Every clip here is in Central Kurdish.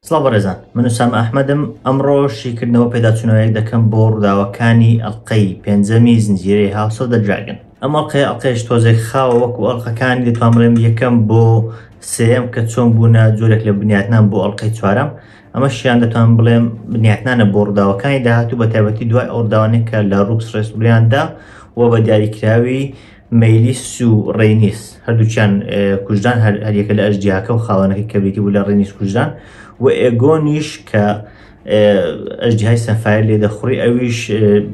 سڵاو بەڕێزان من سام ئەحمەدم ئەمڕۆ شیکردنەوە پێداچوونەوەیەک دەکەم بۆ ڕووداوەکانی ئەڵلقەی پێنجەمی زنجیرەی هاوسۆ دەجاگن ئەمە قەیە ئەڵلقەش تۆزێک خاوە وەکو ئەڵلقەکان دەتوانڵێم یەکەم بۆ سم کە چۆن بوونە جۆرێک لە بنیاتنان بۆ ئەڵلقەی چوارم ئەمەشیان دەتوان بڵێم بنیاتنانە بۆ ڕووداوەکانی داهاتوو بە تایبەتی دوای ئەو ڕووداوانەی کە لە ڕووکس ڕێستوریاندا و بە دیاریکراوی مەیلیس و ڕێنیس هەردووچیان کوژدان هەریەکە لە ئەژدیاکە و خاوەنەکەی کەبێتی بوو لە ڕێنیس کوژدان و ئێگۆنیش کە ئەژدیهای سەفایر لێ دەخوڕی ئەویش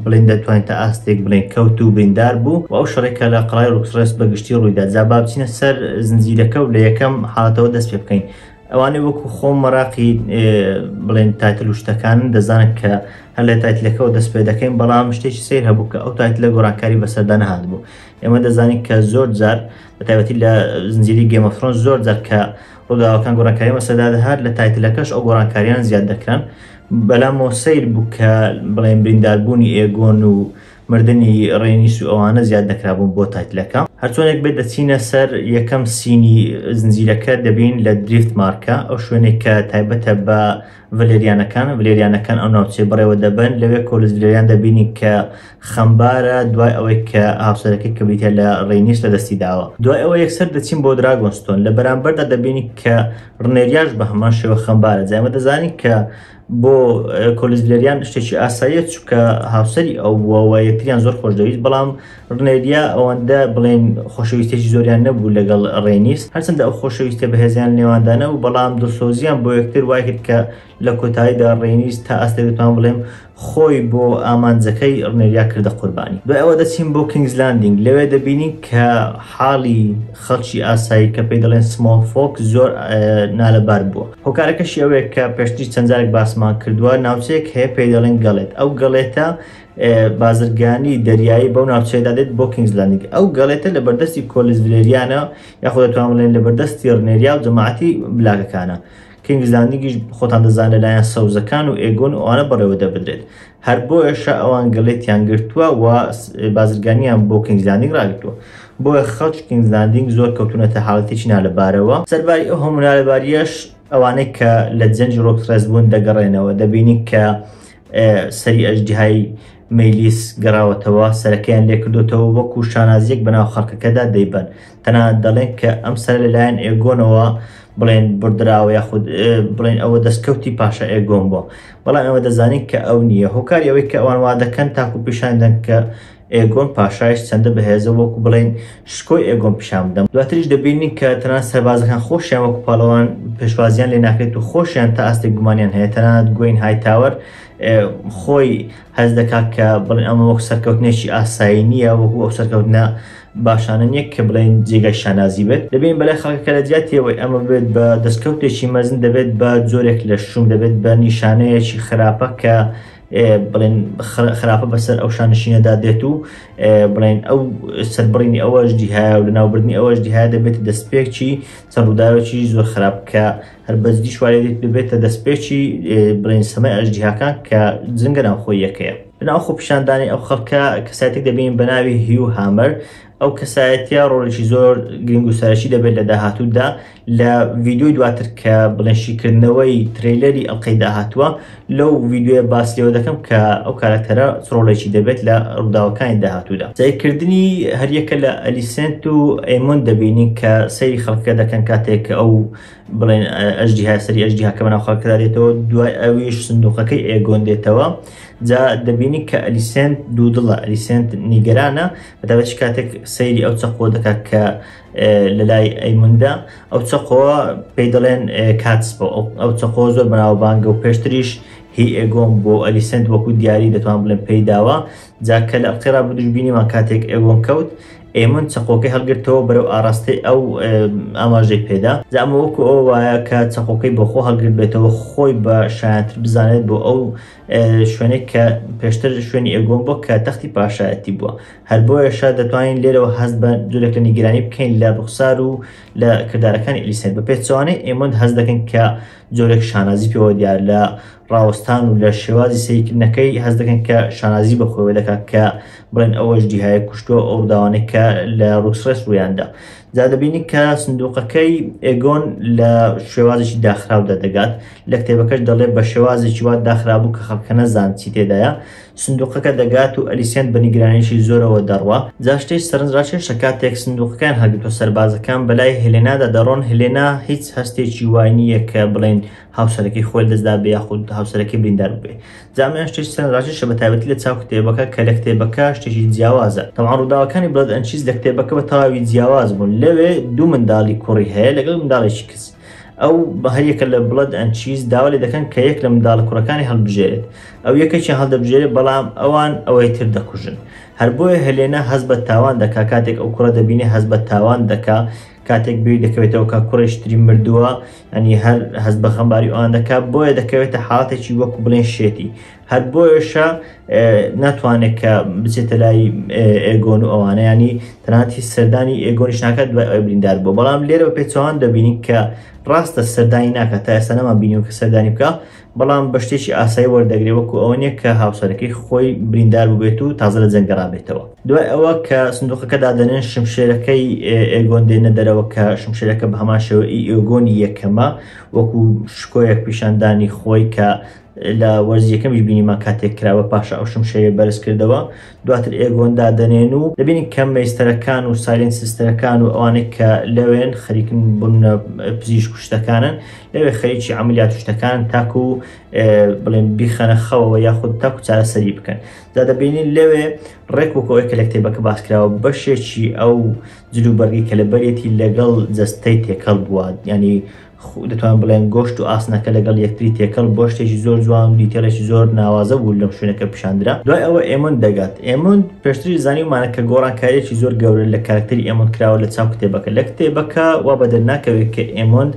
بڵێن دەتوانین تا ئاستێک بڵێن کەوت و بریندار بوو و ئەو شەڕێکە لە قڵای ڕوکسڕێست بەگشتی ڕوویدا جا بابچینە سەر زنجیرەکە و لە یەکەم حاڵەتەوە دەست پێ بکەین ئەوانەی وەکو خۆم مەراقی بڵێن تایتل و شتەکانن دەزانن کە هەر لە تایتلەکەەوە دەست پێ دەکەین بەڵام شتێکی سیر هەبوو کە ئەو تایتلە گۆڕانکاری بەسەردا نەهات بوو ئێمە دەزانین کە زۆر جار بە تایبەتی لە زنجیری گێمەفرۆن زۆر جار کە ڕووداوەکان گۆڕانکاری مەسەدا دەهات لە تایتلەکەش ئەو گۆڕانکاریان زیاد دەکران بەلامەوە سیر بوو کە بڵێن برینداربوونی ئێگۆن و مردنی ڕێنیس و ئەوانە زیاد دەکرابوون بۆ تایتلەکە. هەرچۆنێک بێت دەچینە سەر یەکەم سینی زنجیرەکە دەبین لە دریفت مارکە ئەو شوێنێک کە تایبەتە بە ڤەلێریانەکان ڤلێریانەکان ئەو ناوچەی بەڕێوە دەبەن لەوێ کۆلس ڤلێریان دەبینین کە خەمبارە دوای ئەوەی کە هاوسەرەکەی کە بریتە لە ڕێنیس لە دەستی داوە دوای ئەوە یەکسەر دەچین بۆ دراگۆنستۆن لە بەرامبەردا دەبینین کە ڕنێریاش بە هەمان شێوە خەمبارە جا ئێمە دەزانین کە بۆ کۆلیزلێریان شتێکی ئاساییە چکە هاوسری ئەو بووەوە یەکتریان زۆر خۆش دەویست بەڵام ڕنێریا ئەوەندە بڵێن خۆشەویستێکی زۆریان نەبوو لەگەڵ ڕێنیست هەرچنددە ئەو خۆشەویستە بەهێزیان نێواندانە و بەڵام دڵسۆزیان بۆ یەکتر وای کرد کە لە کۆتاییدا ڕێنیست تا ئاستێک دەتوان بڵێم خۆی بۆ ئامانجەکەی ڕنێریا کردە قوربانی دوای ئەوە دەچین بۆ کینگزلاندینگ لەوێ دەبینین کە حاڵی خەڵکی ئاسایی کە پێی دەڵێن سمۆڵ فۆکس زۆر نالەبار بووە هۆکارەکەشی ئەوەیە کە پێشتری چەندجارێک باسمان کردووە ناوچەیەک هەیە پێی دەڵێن گەڵێت ئەو گەڵێتە بازرگانی دەریایی بەو ناوچەیەدا دێت بۆ کینگزلاندیک ئەو گەڵێتە لە بەردەستی کۆلز ڤلێریانە یاخۆ دەتوان بڵێن لە بەردەستی ڕنێریا و جەماعەتی بلاگەکانە کینگزلاندیگیش خۆتان دەزان لەلایەن سەوزەکان و ئێگۆن ئەوانە بەڕێوە دەبدرێت هەر بۆیەشە ئەوان گلێتیان گرتووە و بازرگانیان بۆ کینگز لاندینگ ڕاگرتووە بۆیە خەڵکی کینگز لاندینگ زۆر کەوتوونەتە حاڵەتێکی نالەبارەوە سەرباری ئەو هەموو نالەباریەش ئەوانەی کە لە جەنجی ڕۆکسڕێس بوون دەگەڕێنەوە دەبینین کە سەری ئەژدیهای مەلیس گەڕاوەتەوە سەرەکەیان لێکردوتەوە وەکو شانازیەک بەناو خەڵکەکەدا دەیبەن تەنانەت دەڵێن کە ئەم سەر لەلایەن ئێگۆنەوە بڵێن بردراوە یاخود بڵێن ئەوە دەستکەوتی پاشا ئێگۆن بۆ بەڵام ئەوە دەزانین کە ئەو نییە هۆکاری ئەوەی کە ئەوان وا دەکەن تاکو پیشان دەن کە ئێگۆن پاشایش چەندە بەهێزە وەکو بڵێن شکۆی ئێگۆن پیشان بدەم دواتریش دەبینین کە تەنان سەربازەکان خۆشیان وەکو پاڵەوان پێشوازیان لێ ناکرێت و خۆشیان تا ئاستێک گومانیان هەیە تەنانەت گوین هایتاوەر خۆی هەز دەکات کە بڵێن ئەمە وەک سەرکەوتنێکی ئاسایی نییە وەکو ئەو سەرکەوتنە باشانە نیە کە بڵێین جێگای شانازی بێت دەبین بەلای خەڵکەکە لە جیاتی ئەوەی ئەمە ببێت بە دەستکەوتێکی مەزن دەبێت بە جۆرێک لە شوم دەبێت بە نیشانەیەکی خراپە کە بڵێن خراپە بەسەر ئەو شانشینەدا دێت و بڵێن ئەو سەربڕینی ئەوەش دیهایە و لەناوبردنی ئەوەش دیهایە دەبێت دەستپێکی چەڕووداوێکی زۆر خراپ کە هەر بەجدیش وایە دێت ببێتە دەستپێکی بڵێن سەمای ئەژدیهاکان کە جنگە ناوخۆیەکەیە لەناو خۆپیشاندانی ئەو خەڵکە کەساتێک دەبین بە ناوی هیو هامەر ئەو کەسایەتە ڕۆڵێکی زۆر گرنگ و سەرەکی دەبێت لە داهاتوودا لە ڤیددیوی دواتر کە بڵێنشیکردنەوەی ترەیلەری ئەڵلقەی داهاتووە لەو ڤیددیوە باس لێوە دەکەم کە ئەو کارەکتەرە ڕۆڵێکی دەبێت لە ڕووداوەکانی داهاتوودا سیرکردنی هەریەکە لە ئەلیسنت و ئەیمون دەبینین کە سەیری خەڵکە دەکەن کاتێک ئەو بڵێن ئەژدیها سەری ئەژدیهاکە بەناو خەڵکەدا دێتەوە دوای ئەویش سندوقەکەی ئێگۆن دێتەوە جا دەبینی کە ئەلیسنت دوو دڵە ئەلیسنت نیگەرانە بەداوەچ کاتێک سەیری ئەو چەقۆ دەکات کە لە لای ئەیموندا ئەو چەقۆوە پێی دەڵێن کاتس بۆ ئەو چەقۆ زۆر بەناوبانگە و پێشتریش هی ئێگۆم بۆ ئەلیسنت وەکو دیاری دەتوان بڵێن پێیداوە جا کە لە ئەڵقەی ڕابردووش بینیمان کاتێک ئێوەن کەوت ئێمن چەقۆکەی هەڵگرتەوە بەرەو ئاراستەی ئەو ئاماژەی پێدا زامە وەکو ئەو وایە کە چەقۆکەی بەخۆ هەڵگرت بێتەوە خۆی بە شایانتر بزانێت بۆ ئەو شوێنێک کە پێشتر شوێنی ئێگۆن بۆ کە تەختی پاشایەتی بووە هەر بۆیەشە دەتوانین لێرەوە هەست بە جورێک لە نیگرانی بکەین لە ڕوخسار و لە کردارەکانی ئەلیسێن بە پێچوانەی ئێمەند هەز دەکەن کە جۆرێک شانازی پێوە دیار لە ڕاوەستان و لە شێوازی سەیرکردنەکەی هەست دەکەن کە شانازی بە خۆیەوە دەکات کە بڵێن ئەوەش دیهایە کوشتووە ئەو ڕووداوانەی کە لە ڕوکسڕێس ڕوویاندا جا دەبینی کە سندوقەکەی ئێگۆن لە شێوازێکی داخراودا دەگات لە کتێبەکەش دەڵێ بە شێوازێکی وا داخرابوو کە خەڵکە نەزان چی تێدایە سندوقەکە دەگات و ئەلیسێنت بە نیگرانییەکی زۆرەوە دەڕوا. جا شتێکی سەرنجڕاکێشە کاتێک سندوقەکەیان هەڵگرتووە سەربازەکان بەلای هێلێنادا دەڕۆن، هێلێنا هیچ هەستێکی وای نییە کە بڵێین هاوسەرەکەی خۆی لەدەست دابێ یاخود هاوسەرەکەی بریندار ببێ. جا ئەمەیان شتێکی سەرنجڕاکێشە بە تایبەتی لە چاو کتێبەکە کە لە کتێبەکە شتێکی جیاوازە. تەبعەن ڕووداوەکانی بڵەد ئەند چیز لە کتێبەکە بە تەواوی جیاواز بوون. لەوێ دوو منداڵی کوڕی هەیە لەگەڵ منداڵێکی کچ. ئەو بە هەر یەکە لە بڵەد ئەند چیز داوا لێ دەکەن کە یەک لە منداڵە کوڕەکانی هەڵبژێرێت. ئەو یەکێکیان هەڵدەبژێرێت بەڵام ئەوان ئەوەی تر دەکوژن. هەر بۆیە هێلێنا هەست بە تاوان دەکا کاتێک ئەو کوڕە دەبینێ هەست بە تاوان دەکا کاتێک بیر دەکەوێتەوە کە کوڕیش تری مردووە یانی هەر هەست بە خەمباری ئەوان دەکا بۆیە دەکەوێتە حاڵەتێکی وەکو بڵێن شێتی هەر بۆیەشە ناتوانێت کە بچێتە لای ئێگۆن و ئەوانەیانی تەناتی سەردانی ئێگۆنیش ناکات دوای ئەوەی بریندار بوو بەڵام لێرە بە پێچوان دەبینین کە ڕاستە سەردانی ناکات تا ئێستا نەمان بینیوە کە سەردانی بکە بەڵام بە شتێکی ئاسایی وەردەگرێ وەکو ئەوە نیە کە هاوسەرەکەی خۆی بریندار ببێت و تازە لە جەنگەڕابێتەوە دوای ئەوە کە سندوقەکە دادەنێن شمشێرەکەی ئێگۆن دێنە دەرەوە کە شمشێرەکە بە هەمان شێوە ئێگۆنی یەکەمە وەکو شکۆیەک پیشاندانی خۆی کە لە وەرزی یەکەمیش بینیمان کاتێک کراوە پاشا ئەو شمشێری بەرز کردەوە دواتر ئێگۆن دادەنێن و دەبینین کە مەیستەرەکان و سایلێن سیستەرەکان و ئەوانێک کە لەوێن خەریکن بوون پزیشک و شتەکانن لەوێ خەریکی عملیات شتەکان تاکو و بڵێن بیخەنە خەوەوە یاخود تاکو چارەسەری بکەن دا دەبینین لەوێ ڕێک وکەوەی کە لە کتێبەکە باسکراوە بەشێکی ئەو جلوبەرگی کە لە بەرێتی لەگەڵ جەستەی تێکەڵ بووە ینی خو دەتوان بڵێن گۆشت و ئاسنەکە لەگەڵ یەکتری تێکەڵ بوە شتێکی زۆر جوان و دیتێڵێکی زۆر ناوازە بوو لەم شوێنە کە پیشاندرا دوای ئەوە ئێمۆند دەگات ئێمۆند پێشتریش زانیومانە کە گۆڕانکاریەکی زۆر گەورە لە کارەکتەری ئێمۆند کراوە لە چاو کتێبەکە لە کتێبەکە وا بە دەرناکەوێت کە ئێمۆند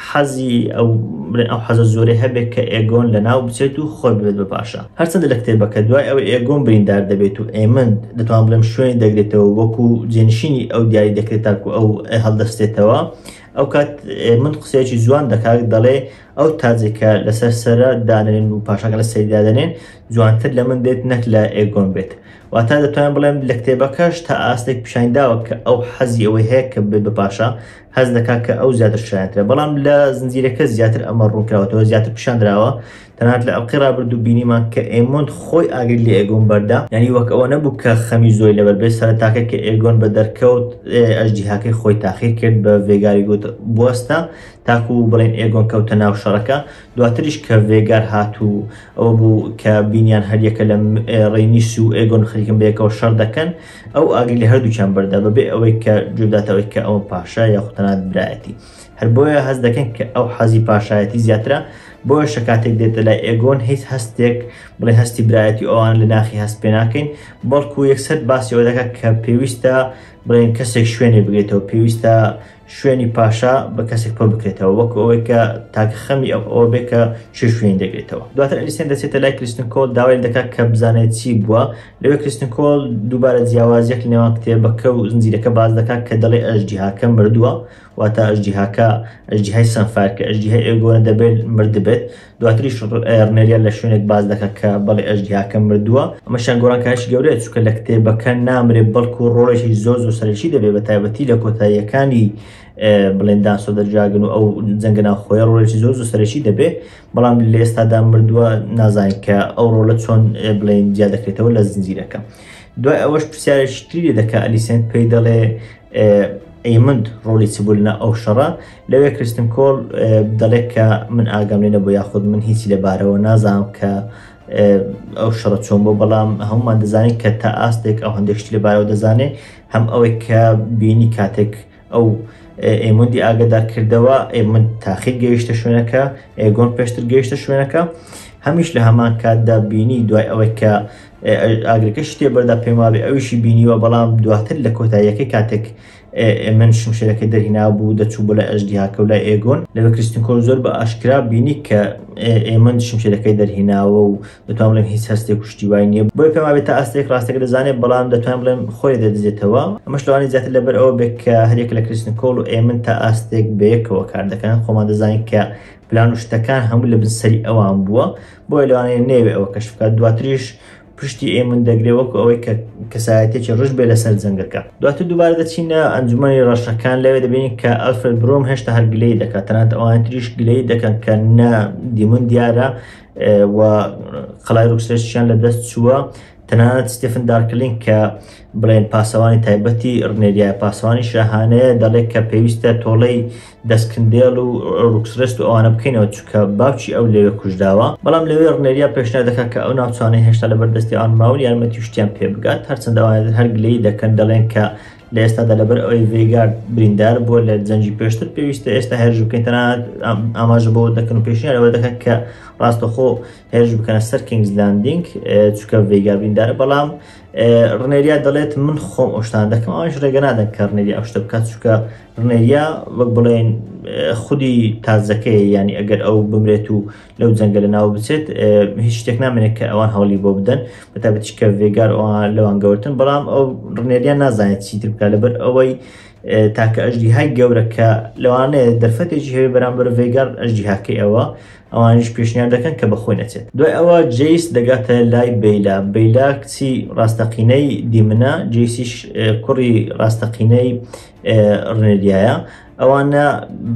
حەزی ئەو بڵێن ئەو حەزە زۆرەی هەبێت کە ئێگۆن لە ناو بچێت و خۆی ببێت بە پاشا هەرچەندە لە کتێبەکە دوای ئەوە ئێگۆن بریندار دەبێت و ئێمند دەتوان بڵێم شوێنی دەگرێتەوە وەکو جێنشینی ئەو دیاری دەکرێت تاکو ئەو هەڵدەستێتەوە ئەوکات من قسەیەکی جوان دەکات دەڵێ ئەو تاجێکە لەسەر سەرە دانێن و پاشاکە لە سەری دادەنێن جوانتر لە من دێت نەک لە ئێگۆم بێت واتا دەتوانم بڵێم لە کتێبەکەش تا ئاستێک پیشانی داوە کە ئەو حەزی ئەوەی هەیە کە بێت بە پاشا هەست دەکات کە ئەو زیاتر شایەنترە بەڵام لە زنجیرەکە زیاتر ئەمە ڕوونکراوەتەوە زیاتر پیشاندراوە تەنانەت لە ئەڵقەی رابردوو بینیمان کە ئێمۆند خۆی ئاگری لە ئێگۆن بەردا، یانی وەک ئەوە نەبوو کە خەمی زۆری لەبەر بێت، سەرەتاکە کە ئێگۆن بە دەرکەوت ئەژدیهاکەی خۆی تاقی کرد بە ڤێگاری گوت بوەستە تاکو بڵێین ئێگۆن کەوتە ناو شەڕەکە، دواتریش کە ڤێگار هات و ئەوە بوو کە بینیان هەریەکە لە رەینیس و ئێگۆن خەریکن بەیەکەوە شەڕ دەکەن، ئەو ئاگری لە هەردووکیان بەردا بەبێ ئەوەی کە گوێبداتە ئەوەی کە ئەوە پاشایە یاخود تەنانەت برایەتی. هەر بۆیە هەست دەکەن کە ئەو حەزی پاشایەتی زیاترە، بۆیەشە کاتێک دێتە لای ئێگۆن هیچ هەستێک بڵێ هەستی برایەتی ئەوان لە ناخی هەست پێ ناکەین، بەڵکو یەکسەر باسی ئەوە دەکات کە پێویستە بڵێن کەسێک شوێنێ بگرێتەوە، پێویستە شوێنی پاشا بە کەسێک پڕ بکرێتەوە، وەکو ئەوەی کە تاکە خەمی ئەو ئەوە بێ کە کێ شوێنی دەگرێتەوە. دواتر ئەلیسێن دەچێتە لای کریستن کۆل داوای لێ دەکات کە بزانێت چی بووە، لەوێ کریستن کۆل دووبارە جیاوازییەک لەنێوان کتێبەکە و زنجیرەکە باس دەکات کە دەڵێ ئەژدیهاکە مردووە، واتا ئەژدیهاکە ئەژدیهای سەنفار کە ئەژدیهای ئێگۆنە دەبێت مردبێت دواتریش ڕنێریان لە شوێنێک باس دەکات کە بەڵێ ئەژدیهاکە مردووە ئەمەشیان گۆڕانکاریی گەورەیە چونکە لە کتێبەکە نامرێت بەڵکو ڕۆڵێکی زۆر زۆر سەرەکی دەبێت بە تایبەتی لە کۆتاییەکانی بڵێن دانسۆ دەرجاگن و ئەو جەنگە ناوخۆیە ڕۆڵێکی زۆر زۆر سەرەکی دەبێت بەڵام لە ئێستادا مردووە نازانین کە ئەو ڕۆڵە چۆن بڵێن جیا دەکرێتەوە لە زنجیرەکە دوای ئەوەش پرسیارێکی تری دەکە ئەلیسێنت پێی دەڵێ ئەیمند ڕۆڵی چ بوو لە ئەو شەڕە لەوێ کرستن کۆڵ دەڵێت کە من ئاگام لێ نەبوو یاخود من هیچی لەبارەوە نازانم کە ئەو شەڕە چۆن بۆ بەڵام هەمومان دەزانین کە تا ئاستێک ئەو هەندێکشتی لەبارەوە دەزانێت هەم ئەوەی کە بینی کاتێک ئەو ئێمەندی ئاگدار کردەوە ئێمن تاخیر گەیشتە شوێنەکە ئێگۆن پێشتر گەیشتە شوێنەکە هەمیش لە هەمان کاتدا بینی دوای ئەوەی کە ئاگرەکە شتێ بەردا پێم وابێ ئەویشی بینیوە بەڵام دواتر لە کۆتاییەکەی کاتێک ئێمن شمشێرەکە دەرهینا بوو دەچوو بۆ لە ئەژدیهاکە و لای ئێگۆن لەوێ کریستنکۆر زۆر بە ئاشکرا بینی کە ئێمن شمشێرەکەی دەرهیناوە و دەتوان بڵێم هیچ هەستێک کوشتی وای نییە بۆی پێم وابێت تا ئاستێک ڕاستێک دەزانێت بەڵام دەتوان بڵێم خۆی دەدزێتەوە ئەمەش لەوانی زیاتر لەبەر ئەوە بێت کە هەرێک لە کریستنکۆڵ و ئێمن تا ئاستێک بەیەکەوە کار دەکەن خۆمان دەزانین کە پلان و شتەکان هەموو لە بنسەری ئەوان بووە بۆیە لەوانەیە نەیەوێ ئەوە کەشف بکات دواتریش پشتی ئێمن دەگرێ وەکو ئەوەی کە کەسایەتێکی ڕژ بێ لەسەر جەنگەکە دواتر دووبارە دەچینە ئەنجومی ڕەشەکان لەوێ دەبینین کە ئەلفرد برۆم هێشتا هەر گلەی دەکات تەنات ئەوان تریش گلەی دەکەن کە نە دیمون دیارە و قەلای ڕوکسێشیان لە دەست چووە تەنانەت ستفن دارکلین کە بڵێن پاسەوانی تایبەتی ڕنێریای پاسەوانی شاهانەیە دەڵێت کە پێویستە تۆڵەی دەسکندێل و ڕوکسرست و ئەوانە بکەینەوە چکە باوکی ئەو لەوێ کوژداوە بەڵام لەوێ ڕنێریا پێشنا دەکات کە ئەو ناوچانەی هێشتا لە بەردەستی ئان ماون یارمەتی شتیان پێ بگات هەرچەند ئەوانێت هەر گلەی دەکەن دەڵێن کە لە ئێستادا لەبەر ئەوەی ڤێگار بریندار بووە لە جەنگی پێشتر پێویستە ئێستا هێرش بکەین تەنانەت ئاماژە بۆ دەکەن و پێشنیارەوە دەکەن کە ڕاستەخۆ هێرش بکەنە سەر کینگز لاندینگ چکە ڤێگار بریندارە بەڵام ڕنێریا دەڵێت من خۆم ئەوشتان دەکەم ئەوش ڕێگە نادەن کە ڕنێری ئەوشتە بکات چکە ڕنێریا وەک بڵێن خودی تازەکەی ینی ئەگەر ئەو بمرێت و لەو جەنگە لە ناو بچێت هیچ شتێک نامێنێت کە ئەوان هەولی بۆ بدەن بەتابەتی کە ڤێگار ئەوان لەوان گەورتن بەڵام ئەو ڕنێریا نازانێت چیتر بکە لەبەر ئەوەی تاکە ئەژدی های گەورە کە لەوانەیە دەرفەتێکی هەیە بەرامبەر ڤێگار ئەژدی هاکەی ئەوە ئەوانیش پێشنیار دەکەن کە بەخۆی نەچێت. دوای ئەوە جەیس دەگاتە لای بەیلا، بەیلا کچی ڕاستەقینەی دیمنە، جەیسیش کوڕی ڕاستەقینەی ڕنریایە، ئەوانە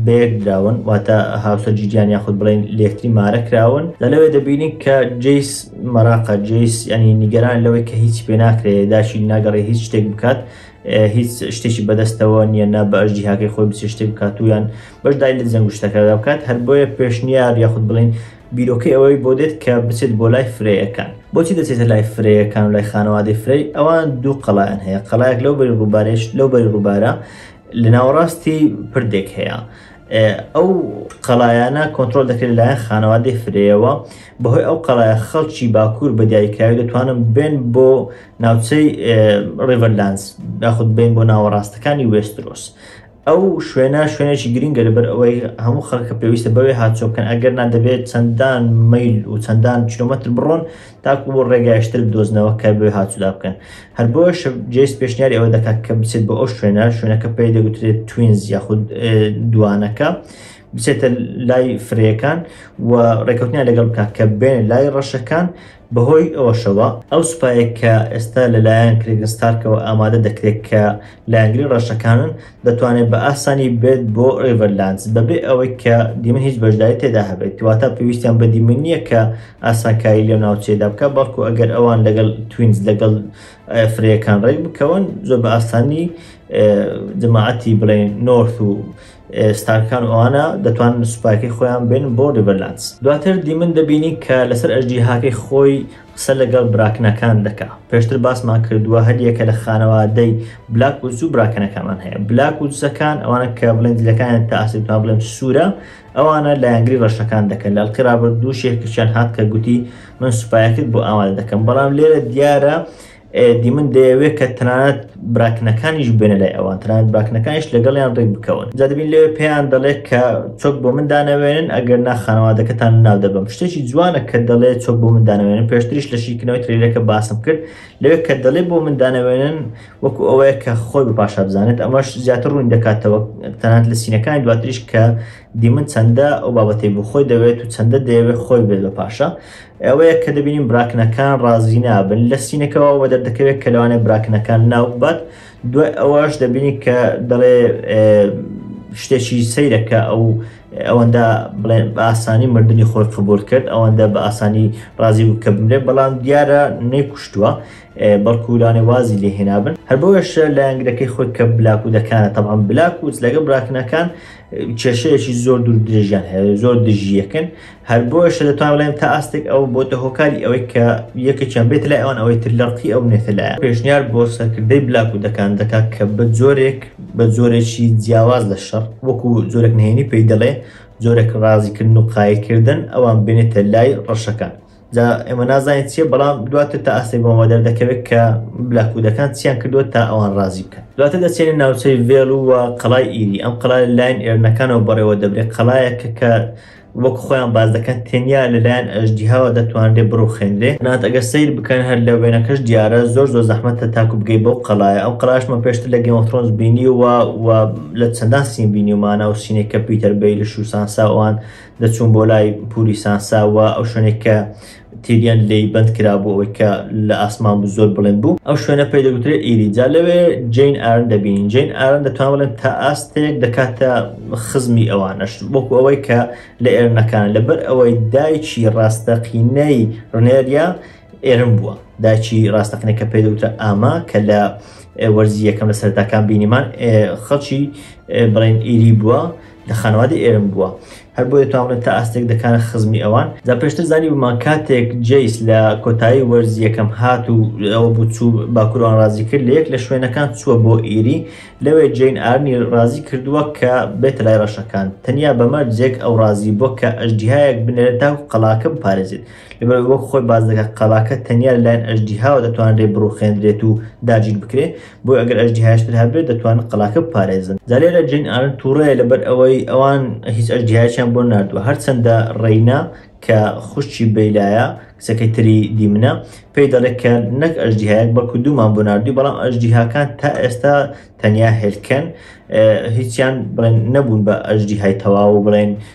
بەیەک دراون واتە هاوسەر جیگیان یاخود بڵێین لەیەکتری مارە کراون، لە لەوێ دەبینین کە جەیس مەراقە، جەیس یانی نیگەرانە لەوەی کە هیچی پێناکرێ داشی ناگەڕێ هیچ شتێک بکات، هیچ شتێکی بەدەستەوە نییە نا بەش جیهاکەی خۆی بچێ شتێک بکاتویان بەشدای لە جەنگ شتەکەدا بکات هەر بۆیە پێشنیار یاخود بڵین بیرۆکەی ئەوەی بۆ دێت کە بچێت بۆ لای فرەیەکان بۆچی دەچێتە لای فرەیەکان لای خانەوادەی فرەی ئەوان دوو قەڵیان هەیە قەلایەک لەو بەری ڕووبارێش لەو بەری ڕووبارە لە ناوەڕاستی پردێک هەیە ئەو قەڵایانە کۆنترۆل دەکرێت لەلایەن خانەوادەی فرەیەوە بەهۆی ئەو قەڵایە خەڵکی باکوور بە دیاریکراوی دەتوانن بێن بۆ ناوچەی ڕیڤەرلانس یاخود بین بۆ ناوەڕاستەکانی وێسترۆس ئەو شوێنە شوێنێکی گرنگە لەبەر ئەوەی هەموو خەڵکە پێویستە بەوێ هاچۆ بکەن ئەگەر نادەبێت چەندان میل و چەندان کیلومتر بڕۆن تاکو بۆ ڕێگای شتر بدۆزنەوە کە بێ هاتوودا بکەن هەر بۆش جێس پێشنیاری ئەوە دەکات کە بچێت بۆ ئەو شوێنە شوێنەکە پێی دەگوترێت توینز یاخود دوانەکە بچێتە لای فرەکان و ڕێکوتنیان لەگەڵ بکات کە بێن لای ڕەشەکان بەهۆی ئەوەشەوە ئەو سوپایە کە ئێستا لەلایەن کرێگستارکەوە ئامادە دەکرێت کە لایەنگری ڕەشەکانن دەتوانێت بە ئاسانی بێت بۆ ریڤەرلاندز بەبێ ئەوەی کە دیمن هیچ بەشداری تێدا هەبێت، واتە پێویستیان بە دیمن نییە کە ئاسانکاری لەو ناوچەیەدا بکات، بەڵکو ئەگەر ئەوان لەگەڵ توینز لەگەڵ فرەیەکان رێک بکەون، زۆر بە ئاسانی جەماعەتی بڵێن نۆرث و ستارکان و ئەوانە دەتوانن سوپاکەی خۆیان بێنن بۆ ریڤەرلاندز. دواتر دیمن دەبینین کە لەسەر ئەژدیهاکەی خۆی قسە لەگەڵ براکنەکان دەکا پێشتر باسمان کردووە هەریەکە لە خانەوادەی بلاک وز و براکەنەکەمان هەیە بلاک وزەکان ئەوانە کە بڵێن دیلەکانیان تا ئاسیتوان بڵێن سوورە ئەوانە لایەنگری ڕەشەکان دەکەن لە ئەڵقی ڕابردوو شێخکچیان هات کە گوتی من سوپایەکت بۆ ئامادە دەکەم بەڵام لێرە دیارە دیمن دەیەوێت کە تەنانەت براکنەکانیش بێنە لای ئەوان تەنانەت براکنەکانیش لەگەڵیان ڕێک بکەون جا دەبین لەوێ پێیان دەڵێت کە چۆک بۆ من دانەوێنن ئەگەر نا خانەوادەکەتان ناو دەبم شتێکی جوانە کە دەڵێ چۆک بۆ من دانەوێنن پێشتریش لە شیکردنەوەی ترێلەکە باسم کرد لەوێ کە دەڵێ بۆ من دانەوێنن وەکو ئەوەیە کە خۆی بە پاشا بزانێت ئەمەش زیاتر ڕوون دەکاتەوە تەنانەت لە سینەکانی دواتریش کە دیمن چەندە ئەو بابەتەی بۆ خۆی دەوێت و چەندە دەیەوێت خۆی بێت بە پاشا ئەوەیە کە دەبینین براکنەکان ڕازی نابن لە سینەکەەوە وە دەردەکەوێت کە لەوانێ براکنەکان ناوبات دوای ئەوەش دەبینی کە دەڵێ شتێکی سیرەکە ئەو ئەوەندە بڵێ بە ئاسانی مردنی خۆی قبول کرد ئەوەندە بە ئاسانی ڕازی بوو کە بمرێ بەڵام دیارە نەیکوشتووە بەڵکوولانێ وازی لێ هێنابن هەر بۆش لایەنگرەکەی خۆی کە بلاک و دەکانە تەمان بلاک وز لەگە براکنەکان کێشەیەکی زۆر دوور درێژیان هەیە زۆر دژیەکەن هەر بۆیەشە دەتوان بڵێن تا ئاستێک ئەو بۆتە هۆکاری ئەوەی کە یەکێکیان بێت لای ئەوان ئەوەی تر لەڕقی ئەو نێتە لایە پێشنیار بۆ سەرکردەی بلاک و دەکان دەکات کە بە جۆرێک بە جۆرێکی جیاواز لە شەڕ وەکو جۆرێک نهێنی پێی دەڵێ جۆرێک ڕازیکردن و قایلکردن ئەوان بێنێتە لای ڕەشەکان جا ئێمە نازانین چیە بەڵام دواتر تا ئاستێک بۆمە دەردەکەوێت کە بلاکوودەکان چیان کردووە تا ئەوان ڕازی بکەن دواتر دەچێنە ناوچەی ڤێڵ و قەڵای ئیری ئەم قەڵای لاین ئێرنەکانەوە بەڕێوە دەبرێت قەڵایەکە کە وەک خۆیان باس دەکەن تەنیا لەلایەن ئەژدیهاوە دەتوانرێت بڕوخێنرێ نات ئەگەر سیر بکەن هەر لە وێنەکەش دیارە زۆر زۆر زەحمەتە تاکو بگەی بەو قەڵایە ئەو قەلاشمە پێشتر لە گەمەفرۆنز بینی و و لە چەندان سین بینی و مانا و سینێک کە پیتەر بەیلش و سانساوان دەچوون بۆ لای پوری سانساوە ئەو شوێنێک کە تیریان لێی بەند کرا بۆ ئەوەی کە لە ئاسمان بوو زۆر بڵند بوو ئەو شوێنە پێی دەگوترێت ئیریجا لەوێ جین ئارن دەبین جین ئارن دەتوان بڵێن تا ئاستێک دەکاتە خزمی ئەوانەش وەکو ئەوەی کە لە ئێرنەکان لەبەر ئەوەی دایکی ڕاستەقینەی ڕنێریا ئێرم بووە داچی ڕاستەقینە کە پێ دەوتە ئاما کە لە وەرزی یەکەم لە سەرتاکان بینیمان خەڵکی بڵێن ئیری بووە لە خانەوادەی ئێرم بووە هەر بۆیە توانبنە تا ئاستێک دەکانە خزمی ئەوان جا پێشتر زانی بمان کاتێک جەیس لە کۆتایی وەرزی یەکەم هات و ئەوە بوو چوو باکوروان ڕازی کرد لە یەک لە شوێنەکان چووە بۆ ئیری لەوێ جین ئارنی ڕازی کردووە کە بێتە لای ڕەشەکان تەنیا بە مەرجێک ئەو ڕازی بووە کە ئەژدیهایەک بنێرێت تاکو قەلاکە بپارێزێت لەبەر وەک خۆی باس دەکات قەلاکە تەنیا لەلایەن ئەژدیهاوە دەتوانرێت بڕوخێندرێت و داگیر بکرێت بۆیە ئەگەر ئەژدیهایشتر هەبێت دەتوانن قەڵاکە بپارێزن جا لێرە جین ئارن تووڕەیە لەبەر ئەوەی ئەوان هیچ ئەژدیهایشیان بۆ ناردووە هەرچەندە ڕێینا کە خوشکی بەیلایە کچەکەی تری دیمنە پێی دەڵێت کە نەک ئەژدیهایەک بەڵکو دوومان بۆ ناردووی بەڵام ئەژدیهاکان تا ئێستا تەنیا هێلکەن هیچیان بڵێن نەبوون بە ئەژدیهای تەواو بڵێن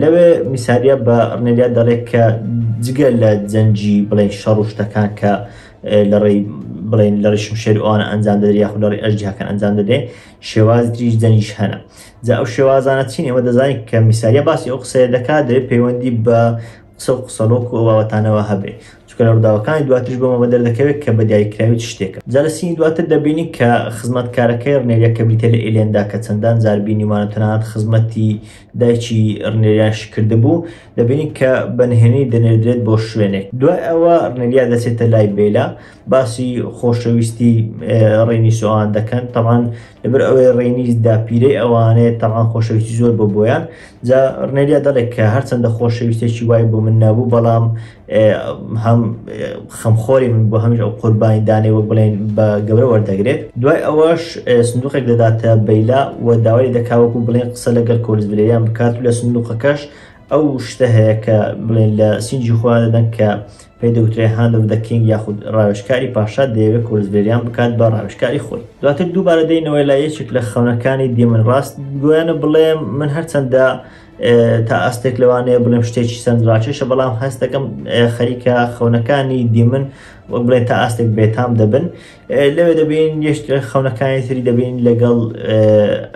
لەوێ میساریە بە ڕنێلیا دەڵێت کە جگە لە جەنجی بڵێ شەڕ و شتەکان کە لە ڕێی بڵێن لە ڕیشم شێر ئەوانە ئەنجام دەدرێت یاخود لە ڕێی ئەژدیاکان ئەنجام دەدرێت شێواز دریش جەنیش هەنە جا ئەو شێوازانە چین ئێمە دەزانین کە میساریە باسی ئەو قسەیە دەکات دەێت پەیوەندی بە قسە و قسەڵۆک و ئەو بابەتانە وا هەبێ چونکە لە ڕووداوەکانی دواتریش بۆمە بە دەردەکەوێت کە بە دیاریکراوی چ شتێکە جا لە سینی دواتر دەبینین کە خزمەتکارەکەی ڕنێریا کە بریتیە لە ئیلێندا کە چەندان جار بینیومانە تەنانەت خزمەتی دایکی ڕنێریاشی کردبوو دەبینین کە بە نهێنی دەنێردرێت بۆ شوێنێک دوای ئەوە ڕنێریا دەچێتە لای بێلا باسی خۆشەویستی ڕێنی سۆوان دەکەن تەوان لەبەر ئەوەی ڕێنی داپیرەی ئەوانەیە تەوان خۆشەویستی زۆر بۆ بۆیان جا ڕنێریا دەڵێک کە هەرچەندە خۆشەویستێکی وای بۆ من نەبوو بەڵام هەم خەمخۆری من بۆ هەمیش ئەو قوربانی دانێ وە بڵێن بە گەورە وەردەگرێت دوای ئەوەش سندوقێک دەداتە بەیلا و داوای دەکاوەکو بڵێن قسە لەگەر کۆلزبرێیان بکات و لە سندوقەکەش ئەو شتە هەیە کە بڵێن لە سینجی خۆیان دەدەن کە پێی دەوترێ Hand of the King یاخود ڕاوێژکاری پاشا دەیەوێت کۆرزڤێریان بکات بە ڕاوێژکاری خۆی. دواتر دووبارە دێینەوە لای یەکێک لە خەونەکانی دیمن ڕاست گویانە بڵێم من هەرچەندە تا ئاستێک لەوانەیە بڵێم شتێکی سەرنجڕاکێشە بەڵام هەست دەکەم خەریکە خەونەکانی دیمن وەک بڵێن تا ئاستێک بێتام دەبن لەوێ دەبین یشت خەونەکانی تری دەبین لەگەڵ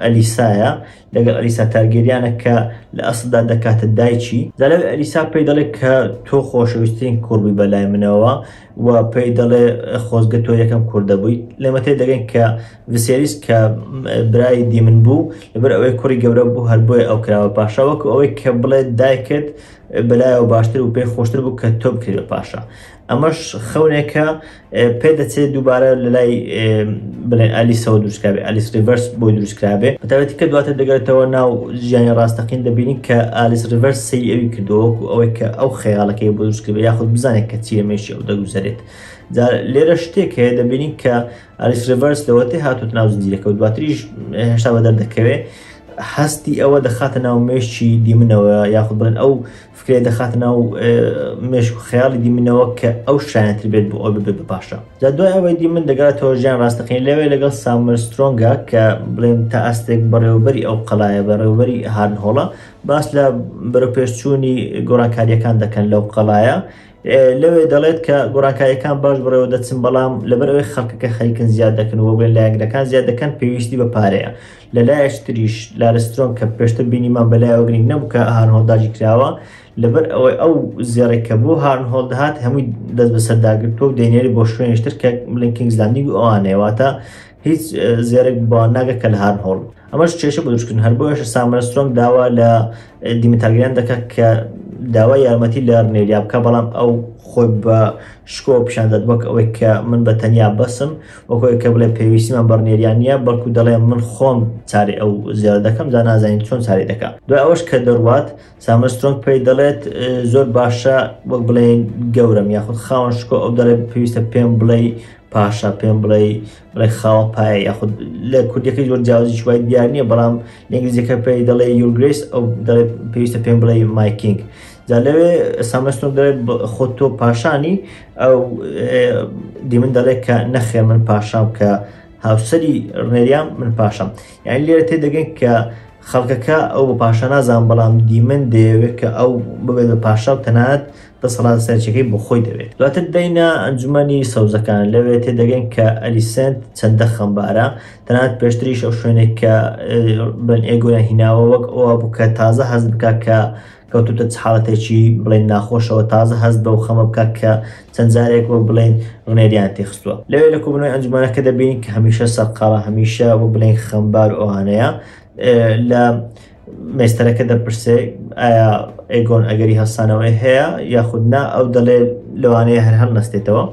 ئەلیسایە لەگەڵ ئەلیسا تارگێریانە کە لە ئەسڵدا دەکاتە دایکی. زالاوی ئەلیسا پێی دەڵێت کە تۆ خۆشەویسترین کوڕ بووی بەلای منەوە و پێی دەڵێ خۆزگە تۆ یەکەم کوڕ دەبوویت. لێمە تێدەگەین کە ڤسێریس کە برای دیمن بوو، لەبەر ئەوەی کوڕی گەورە بوو هەر بۆیە ئەو کرا بە پاشا، وەکو ئەوەی کە بڵێت دایکت بەلایەوە باشتر و پێی خۆشتر بوو کە تۆ بکرێت بە پاشا. ئەمەش خەونێکە پێ دەچێت دووبارە لە لای بڵێن ئەلیسەوە دروستکراێ ئەلیس ریڤەرس بۆی دروستکراێ بەتابەتی کە دواتە دەگەێتەوە ناو ژیانی ڕاستەقین دەبینی کە ئالیس ریڤەرس سی ئەوی کردووەکو ئەوەی کە ئەو خەیاڵەکەی بۆ دروستکرد یاخود بزانێت کە چیە مێشی ئەو دەگوزارێت لێرە شتێک هەیە دەبینین کە ئالیس ریڤەرس لەوەتی هاتوت ناو زنجیرەکە و دواتریش هێشتا بەدەر دەکەوێت هەستی ئەوە دەخاتە ناو مێشی دیمنەوە یاخود بڵێن ئەو فکرەی دەخاتە ناو مێشک و خەیاڵی دیمنەوە کە ئەو شایەنتر بێت بۆ ئەو ببێت بە پاشا جا دوای ئەوەی دیمن دەگاتەوە ژیان ڕاستەقین لەوێ لەگەڵ سامر سترۆنگە کە بڵێن تا ئاستێک بەڕێوەبەری ئەو قەلایە بەڕێوەبەری هارنهۆڵە باس لە بەرەپێشچوونی گۆڕانکاریەکان دەکەن لەو قەلایە لەوێ دەڵێت کە گۆڕانکاریەکان باش بڕێوە دەچن بەڵام لەبەر ئەوەی خەڵکەکە خەریکن زیاد دەکەن و بێن لایەنگرەکان زیاد دەکەن پێویستی بە پارەیە لە لایەش تریش لارسترۆن کە پێشتر بینیمان بە لایەوە گرنگ نەبوو کە هارنهۆڵد داگیر کراوە لەبەر ئەوەی ئەو زێڕێک کە بۆ هارنهۆڵد دەهات هەمووی دەست بەسەر داگرتووە و دەینێری بۆ شوێنیشتر کە بلین کینگز لاندینگ و ئەوانەیە واتە هیچ اه، زێرێک بۆ ناگە کە لە هارنهۆڵد ئەمەش کێشە بۆ دروستکردن هەر بۆیەش سامرە سترۆنگ داوا لە اه، دیمتارگریان دەکات کە داوای یارمەتی لە رنێریا بکە بەڵام ئەو خۆی بە شکۆ پیشان دەدوەک ئەوەی کە من بە تەنیا بەسم وەکو ئەوەی کە بڵێ پێویستیمان بە ڕنێریان نییە، بەڵکو دەڵێ من خۆم چاری ئەو زێڕە دەکەم، جا نازانین چۆن چاری دەکا. دوای ئەوەش کە دەڕوات، سامن سترۆنگ پێی دەڵێت، زۆر باشە وەک بڵێین گەورەم یاخود خاوەن شکۆ، ئەو دەڵێت، پێویستە پێم بڵێی پاشا، پێم بڵێی بڵێ خاوە پایە یاخود، لە کوردییەکەی زۆر جیاوازیی وای دیار نییە، بەڵام لە ئینگلیزییەکە پێی دەڵێ یور گرەیس، ئەو دەڵێت، پێویستە پێم بڵێی مای کینگ. جا لەوێ سامن سترۆنگ دەڵێت، خۆ تۆ پاشانی، ئەو دیمن دەڵێت کە نەخێ من پاشام کە هاوسری ڕێریان من پاشەم یان لێرە تێ دەگەن کە خەڵکەکە ئەو بە پاشا نازان بەڵام دیمن دەیەوێت کە ئەو ببێت بە پاشا و تەنات دەسەڵات سەرچەکەی بۆ خۆی دەوێت دواتر دەینە ئەنجومی سەوزەکان لەوێ تێ دەگەن کە ئەلیسنت چەندە خەمبارە تەنات پێشتریش ئەو شوێنێک کە بن ئێگویان هیناوە وەک ئەوە بوو کە تازە هەز بکە کە کەوتۆتە چ حاڵەتێکی بڵێین ناخۆشەوە، تازە هەست بەو خەمە بکات کە چەند جارێک وەک بڵێین ڕنێریان تێخستووە. لەوێ لە کۆبوونەوەی ئەنجومەنەکە دەبینین کە هەمیشە سەرقاڵە، هەمیشە وەک بڵێین خەمبار و ئەوانەیە. لە مێستەرەکە دەپرسێ ئایا ئێگۆن ئەگەری هەستانەوەی هەیە یاخود نا، ئەو دەڵێ لەوانەیە هەر هەڵنەستێتەوە.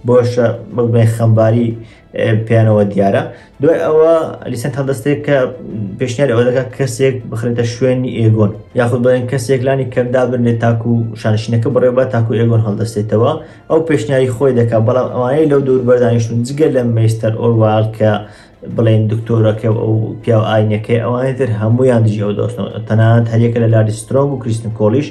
بۆشە وەک بڵێین خەمباری پێیانەوە دیارە دوای ئەوە لیسەن تا دەستێک کە پێشنیار ئەوە دەکات کەسێک بخرێتە شوێنی ئێگۆن یاخود بڵێن کەسێک لانی کەمدا بنێت تاکو و شانشینەکە بڕێ بە تاکو ئێگۆن هەڵدەستێتەوە ئەو پێشنیاری خۆی دەکات بەڵام ئەوانەی لەو دور بەردانیشتون جگە لە مەستەر ئۆرواڵ کە بڵێن دکتۆرەکە و ئەو پیا و ئاینەکەی ئەوانەی تر هەمویان دژی ئەو دۆستنەوە تەنانەت هەریەکە لە لاری سترۆنگ و کریستن کۆڵیش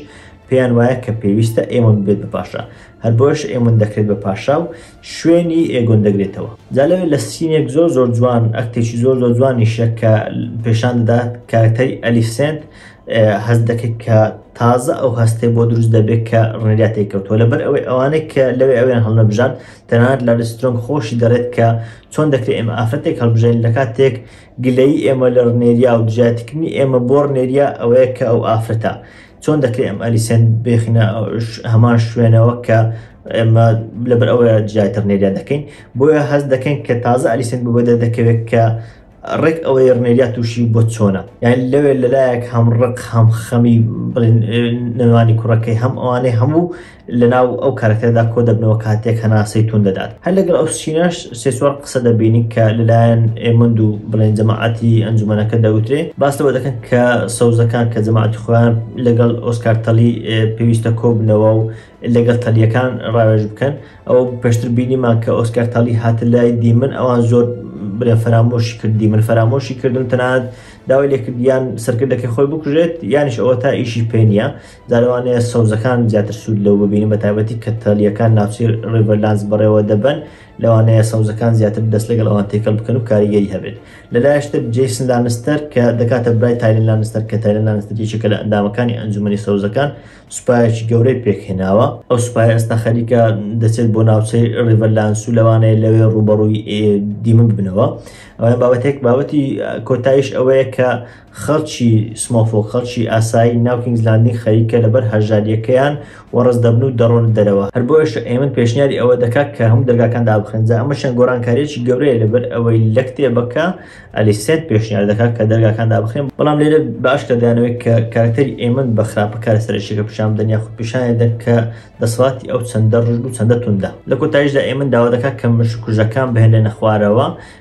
پێیان وایە کە پێویستە ئێمە بێت بە پاشا هەر بۆش ئێمن دەکرێت بە پاشا و شوێنی ئێگۆت دەگرێتەوە جا لەوێ لە سینێک زۆر زۆر جوان ئەکتێکی زۆر زۆر جوانیشە کە پێشان دەدات کارەکتەری ئەلیفسێنت هەست دەکرد کە تازە ئەو هەستێ بۆ دروست دەبێت کە ڕێنریا تێکەوتوە لەبەر ئەوەی ئەوانەی کە لەوێ ئەویان هەڵنەبژان تەنانەت لە ریسترۆنگ خۆشی دەڵێت کە چۆن دەکرێت ئێمە ئافرەتێک هەڵبژێن لە کاتێک گلەی ئێمە لە ڕنێریا و دژایەتیکردنی ئێمە بۆ ڕنێریا ئەوەیە کە ئەو ئافرەتە چۆن دەکرێت ئەم ئەلیسێن بێخینە هەمان شوێنەوە کە ئێمە لەبەر ئەوەیە جیاتر نێریا دەکەین بۆیە هەست دەکەین کە تازە ئەلیسێن بۆ بەدە دەکەوێت کە ڕێک ئەوەی ڕنێریا تووشی بۆ چۆنە یان لەوێ لەلایەک هەم ڕق هەم خەمی نەوانی کوڕەکەی هەم ئەوانەی هەموو لەناو ئەو کارەکتەرەدا کۆ دەبنەوە کاتێک هەناسەی توند دەدات. هەر لەگەڵ ئەو سینەش سێ چوار قسە دەبینین کە لەلایەن ئێموند و بڵێن جەماعەتی ئەنجومەنەکە دەوترێ، باس لەوە دەکەن کە سەوزەکان کە جەماعەتی خۆیان لەگەڵ ئۆسکار تەلی پێویستە کۆ ببنەوە و لەگەڵ تەلییەکان ڕاوێژ بکەن. ئەوە پێشتر بینیمان کە ئۆسکار تەلی هاتە لای دیمن ئەوان زۆر بڵێن فەرامۆشی کرد، دیمن فەرامۆشی کردن و تەنانەت داوای لێ کرد یان سەرکردەکەی خۆی بکوژێت یانیش ئەوەتا ئیشی پێ نییە. جا لەوانەیە سەوزەکان زیاتر سوود لەو ببینن بە تایبەتی کە تەلیەکان ناوچەی ڕیڤەرلاندز بەڕێوە دەبەن لەوانەیە سەوزەکان زیاتر دەست لەگەڵ ئەوان تێکەڵ بکەن و کاریگەری هەبێت لەلایشتر جیسن لانستەر کە دەکاتە برای تایلن لانستەر کە تایلن لانستەر یەکێکە لە ئەندامەکانی ئەنجومەنی سەوزەکان سوپایەکی گەورەی پێکهێناوە ئەو سوپای ئێستا خەریکە دەچێت بۆ ناوچەی ڕیڤەرلاندس و لەوانەیە لەوێ ڕوبەڕووی دیمە ببنەوە ئەوە بابەتێک بابەتی کۆتایش ئەوەیە کە خەڵکی سمۆفۆک خەڵکی ئاسایی ناو کینگز لاندینگ خەریکە لەبەر هەژاریەکەیان وەڕس دەبن و دەڕۆنە دەرەوە هەر بۆیەشە ئەیمن پێشنیاری ئەوە دەکات کە هەموو دەرگاکان دابخرێن جا ئەمە چەند گۆڕانکاریەکی گەورەیە لەبەر ئەوەی لە کتێبەکە ئەلیسێنت پێشنیار دەکات کە دەرگاکان دابخرێن بەڵام لێرە بە ئاشکرا دەیانەوێت کە کارەکتەری ئەیمن بە خراپە کارە سەرەکیەکە پیشان بدەن یاخود پیشانی بدەن کە دەسەڵاتی ئەو چەندە ڕژد و چەندە توندە لە کۆتایشدا ئەیمن داوا دەکات کە مشککوژەکان بهێنرێنە خوارەوە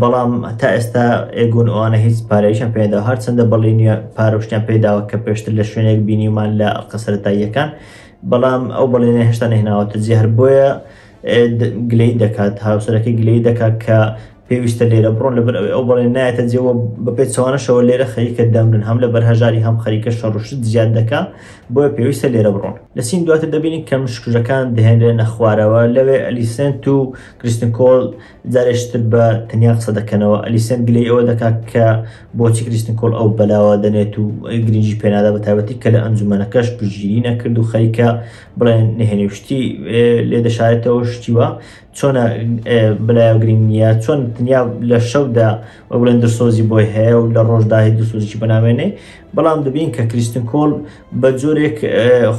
بەڵام تا ئێستا ئێگون ئەوانە هیچ پارەیشان پێدا هەرچەندە بەڵی نیە پارۆشتیان پێداوە کە پێشتر لە شوێنێک بینیمان لە ئەڵقە سەرەتاییەکان بەڵام ئەو بەڵێنە هێشتا نهێناوەتە جێ هەر بۆیە گلەی دەکات هاوسەرەکە گلەی دەکات کە پێویستە لێرە بڕۆن لەبەر ئەوی ئەو بەڵێن نایەتە جێەوە بەپێ چوانەشەوە لێرە خەریکە دەمرن هەم لە بەرهەژاری هەم خەریکە شەڕشت زیاد دەکا بۆیە پێویستە لێرە بڕۆن لە سین دواتر دەبینین کەم شکژەکان دەهێنرێنە خوارەوە لەوێ ئەلیسنت و کریستنکۆل جارێکی تر بە تەنیا قسە دەکەنەوە ئەلیسەن گلەی ئەوە دەکات کە بۆچی کریستن کۆڵ ئەو بەلاوە دەنێت و گرنگی پێنادا بە تایبەتی کە لە ئەنجومەنەکەش پشتگیری نەکرد و خەریکە بڵێن نهێنی و شتی لێ دەشارێتەوە شتیوە چۆنە بەلایە گرنگ نییە چۆن تەنیا لە شەودا و بڵێن درسۆزی بۆی هەیە و لە ڕۆژداهی درسۆزیی بەنامێنێ بەڵام دەبین کە کریستن کۆڵ بە جۆرێک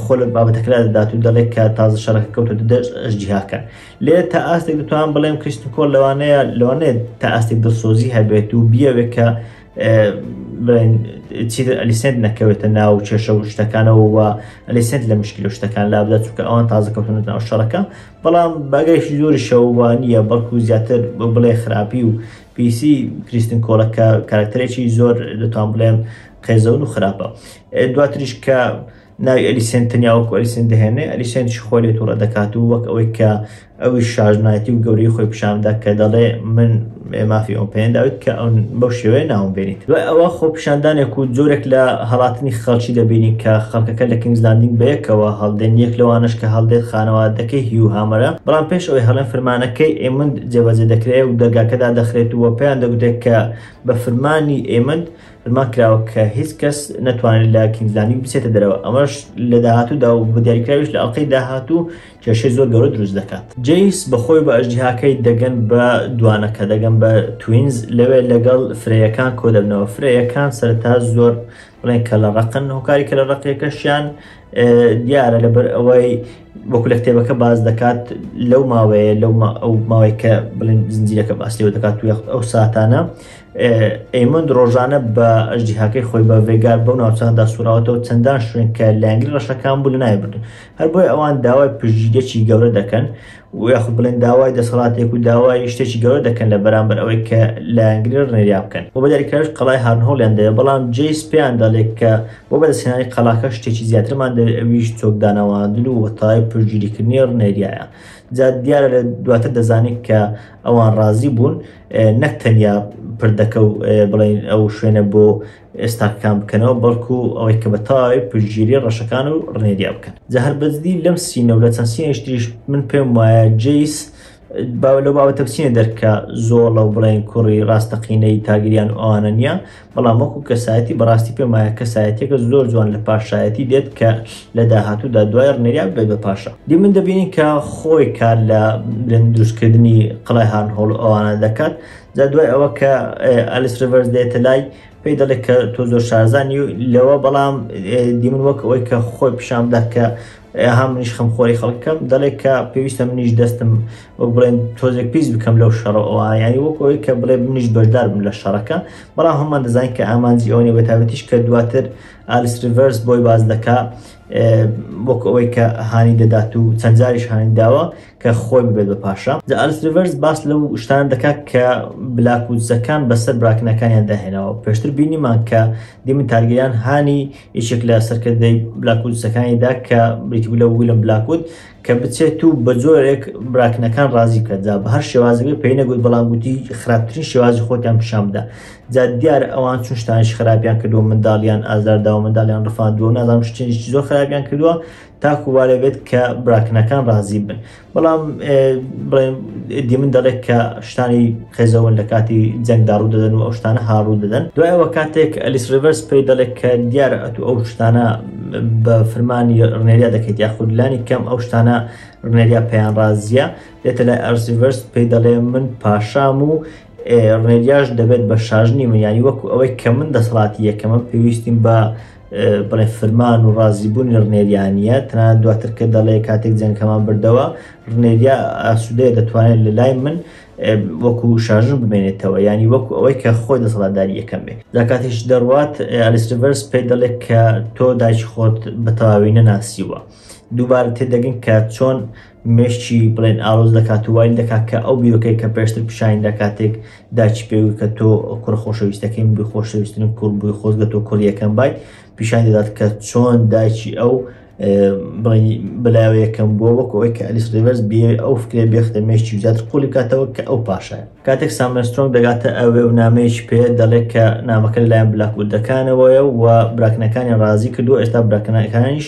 خۆ لە بابەتەکەدا دەدات و دەڵێت کە تازە شەڕەکە کەوتە دەست ئەژدیهاکان لێ تا ئاستێک دەتوان بڵێم کریستنکۆل لەوانەیە لەوانێت تا ئاستێک دڵسۆزی هەبێت و بیاوێت کە چیتر ئەلیسنت نەکەوێتە ناو چێشە و شتەکانەوە و ئەلیسنت لە مشکل و شتەکان لا بدات چونکە ئەوان تازە کەوتنە ناو شەڕەکە بەڵام باگەیشی زۆری شەوانیە بەڵکو زیاتر بڵێ خراپی و پیسی کریستن کۆڵەکە کارکتەرێکی زۆر دەتوان بڵێم قێزەون و خراپە دواتریش کە ناوی ئەلیسێن تەنیا وەکو ئەلیسێن دەهێنێ ئەلیسێن شخۆرێت و ڕەدەکات و وەک ئەوەی کە ئەوی شارژنایەتی و گەوری خۆی پیشاندا کە دەڵێ من مافی ئەو پێنداوت کە ئەو بەو شێوەیە ناوم بێنیت و ئەوە خۆ پیشاندانێک و جۆرێک لە هەڵاتنی خەڵکی دەبینین کە خەڵکەکە لە کینگزلاندینگ بەیەکەوە هەڵدێن یەک لەوانەش کە هەڵدێت خانەوادەکەی هیو هامەرە بەڵام پێش ئەوەی هەڵێن فرمانەکەی ئێمند جێبەجێ دەکرێت و دەرگاکەدا دەخرێت و پێیان دەگوتێت کە بە فرمانی ئێمند فرمان کراوە کە هیچ کەس نەتوانێت لە کینگزلاندین بچێتە دەرەوە ئەمەش لە داهاتوودا و بە دیاریکراویش لە ئەڵلقەی داهاتوو کێشەی زۆر گەورە دروست دەکات جەیس بەخۆی بە ئەژدیهاکەی دەگەن بە دوانەکە دەگەن بە توینز لەوێ لەگەڵ فرەیەکان کۆ دەبنەوە فرەیەکان سەرتا زۆر بڵێن کە لە ڕقن هۆکاری کە لە ڕقیەکەشیان دیارە لەبەر ئەوەی وەکو لە کتێبەکە باز دەکات لەو ماوەیە لەو ئەو ماوەی کە بڵێن زنجیرەکە باس لێو دەکات و یخت ئەو ساتانە ئێمۆند ڕۆژانە بە ئەژدیهاکەی خۆی بە ڤێگار بەو ناوچاندا سوراوەتەوە چەندان شوێن کە لایەنگری ڕەشەکان بوو لە ناوی بردن هەر بۆیە ئەوان داوای پشتگیریەکی گەورە دەکەن و یاخود بڵێن داوای دەسەڵاتێک و داوای شتێکی گەورە دەکەن لە بەرامبەر ئەوەی کە لایەنگری ڕێریا بکەن و بە دەریکەش قەڵای هارنهۆڵیان دەوێت بەڵام جەیس پێیان دەڵێت کە بۆ بەدەستهێنانی قەڵاکە شتێکی زیاترمان دەوێت ئەویش چۆکدانەوەاندن و وەتای پشتگیریکردنی ڕنێریایە جا دیارە لە دواتر دەزانین کە ئەوان ڕازی بوون نەک تەنیا پردەکە و بڵین ئەو شوێنە بۆ ئێستاکان بکەنەوە بەڵکو ئەوەی کە بە تاوی پشگیری ڕەشەکان و ڕنێریا بکەن جە هەر بەزدی لەم سینە و لە چەند سینەشتریش من پێم وایە جیس باو لە باوە تەپسینە دەرکە زۆڵە و بڵێن کوڕی ڕاستەقینەی تاگریان ئەوانە نیە بەڵام وەکو کەسایەتی بەڕاستی پێم وایە کەسایەتیەکە زۆر جوان لە پاشایەتی دێت کە لە داهاتوودا دوای ڕنێریا ببێت بە پاشا دی من دەبینین کە خۆی کار لە برند دروستکردنی قڵای هارنهۆڵ ئەوانە دەکات جا دوای ئەوە کە ئەلیس ریڤەرز دێتە لای پێی دەڵێت کە تۆ زۆر شارزانی لەوە بەڵام دیمن وەک ئەوەی کە خۆی پیشان بدات کە ها منیش خەم خۆری خەڵکەکەم دەڵێ کە پێویستە منیش دەستم وەک بڵێن تۆزێک پیس بکەم لەو شەڕەوە یانی وەک ئەوەی کە بڵێ منیش بەشدار بم لە شەڕەکە بەڵام هەمان دەزانین کە ئامانجی ئەوەنێ بەتابەتیش کە دواتر ئالیس ریڤەرس بۆی باز دەکا وەک ئەوەی کە هانی دەدات و چەند جاریش هانی داوە کە خۆی ببێت بە پاشا جا ئالیس ریڤەرس باس لەو شتان دەکات کە بلاک وودزەکان بەسەر براکنەکانیان داهێناوە پێشتر بینیمان کە دیمن تارگیران هانی یەکێک لە سەرکردەی بلاکوودسەکانیدا کە بریتبوو لە ویلم بلاکوود کە بچێت و بە جۆرێک براکنەکان ڕازی بکەدا بە هەر شێوازەکەی پێی نەگوت بەڵام گوتی خراپترین شێوازی خۆتیان پیشان بدە جا دیار ئەوان چون شتانش خراپیان کردو منداڵیان ئازارداوە منداڵیان ڕفاندووە نازانم شتێنی زۆر خراپیان کردووە تاکو وا دەبێت کە براکنەکان ڕازی بن بەڵام دیمن دەڵێت کە شتانی قێزەوەن لە کاتی جەنگدا ڕوو دەدەن و ئەو شتانە هاڕوو دەدەن دوایەوە کاتێک ئەلیس ڕڤەرس پێی دەڵێت کە دیارە ئەتو ئەو شتانە بە فرمانی ڕنێریا دەکەیت یاخود لانی کەم ئەو شتانە ڕنێریا پێیان ڕازیە دێتە لای ئەرسیڤەرس پێی دەڵێ من پاشام و ڕێریاش دەبێت بە شاژنی منیانی وەکو ئەوەی کە من دەسەڵاتی یەکەمە پێویستیم بە بڵێ فرمان و ڕازیبوونی ڕنێریانە تەنان دواتر کە دەڵێ کاتێک جەنگەکەمان بردەوە ڕنێریا ئاسوودەیە دەتوانێت لە لای من وەکو شاژن بمێنێتەوە ینی وەکو ئەوەی کە خۆی دەسەڵاتداری یەکەم بێت لە کاتیش دەڕوات ئەلیسڤەرس پێ دەڵێت کە تۆ دایکی خۆت بە تەواوی نەناسیوە دووبارە تێدەگەن کە چۆن مێشکی بڵێن ئالۆز دەکات و وای دەکات کە ئەو بیرۆکەی کە پێشتر پیشانی دا کاتێک داچی پێوی کە تۆ کوڕە خۆشەویستەکەی بووی خۆشەویستن و کوڕ بووی خۆزگە تۆ کوڕیەکەم بای پیشان دەدات کە چۆن دایکی ئەو بلاوە یەکەم بووە وەک ئەوەی کە ئەلیس ریڤەرز بێ ئەو فکرێ بێختە مێشتی زیاتر قولی بکاتەوە کە ئەو پاشای کاتێک سامەسترۆنگ دەگاتە ئەوێ و نامەیەکی پێ دەڵێت کە نامەکە لەلایەن بلاکوردەکانەوەیە و براکنەکانی ڕازی کردو ئێستا براکنەکانیش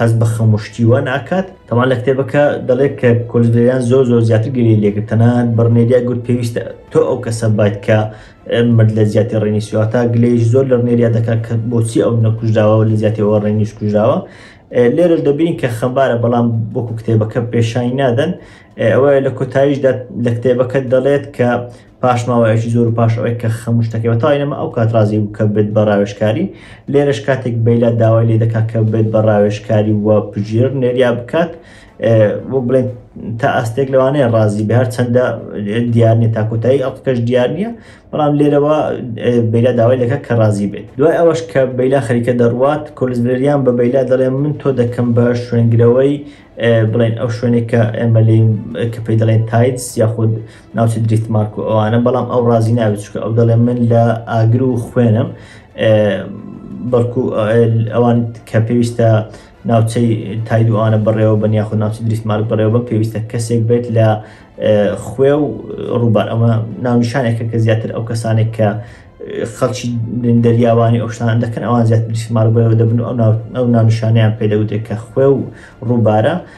هەست بە خەم و شتی وا ناکات. تەمان لە کتێبەکە دەڵێت کە کۆلجلەریان زۆر زۆر زیاتر گریی لێ کرد، تەنانەت بڕنێریا گوت پێویستە تۆ ئەو کەسە بایت کە مرد لە جیاتی ڕێنیس، واتا گلەییش زۆر لە ڕنێریا دەکات کە بۆچی ئەو نەکوژراوە و لە جیاتی ئەوە ڕێنیس کوژراوە. لێرەش دەبینین کە خەمبارە بەڵام وەکو کتێبەکە پێشانی نادەن. ئەوە لە کۆتاییشدا لە کتێبەکە دەڵێت کە، پاش ماوەیەکی زۆر و پاش ئەوەی کە خەم و شتەکەی بە تەواوی نەما ئەو کات ڕازی بوو کە بێت بە ڕاوێژکاری لێرەش کاتێک بەیلا داوای لێ دەکات کە بێت بە ڕاوێژکاری و پژیر نێریا بکات بۆ بڵێن تا ئاستێک لەوانەیە ڕازی بە هەر چەندە دیار نیە تا کۆتایی ئەڵقەش دیار نییە بەڵام لێرەوە بەیلا داوای لەکە کە ڕازی بێت دوای ئەوەش کە بەیلا خەریکە دەڕوات کۆلزبریان بە بەیلا دەڵێ من تۆ دەکەم بە شوێنگرەوەی بڵێن ئەو شوێنێک کە ئێمە لێ کە پێی دەڵێن تایتس یاخود ناوچە دریتمارک و ئەوانە بەڵام ئەو ڕازی ناوێت چکە ئەو دەڵێ من لە ئاگر و خوێنم بەڵکو ئەوان کە پێویستە ناوچەی تاید و ئەوانە بەڕێوە بە یاخود ناوچە دریتمارک بەڕێوە بە پێویستە کەسێک بێت لە خوێ و ڕووبار ئەمە ناونیشانێکە کە زیاتر ئەو کەسانێک کە خەڵکی دەریاوانی ئۆشتان دەکەن ئەوان زیاتر دریتمارک بەرەوە دەبن و ئەو ناونیشانیان پێدەوتێک کە خوێ و ڕووبارە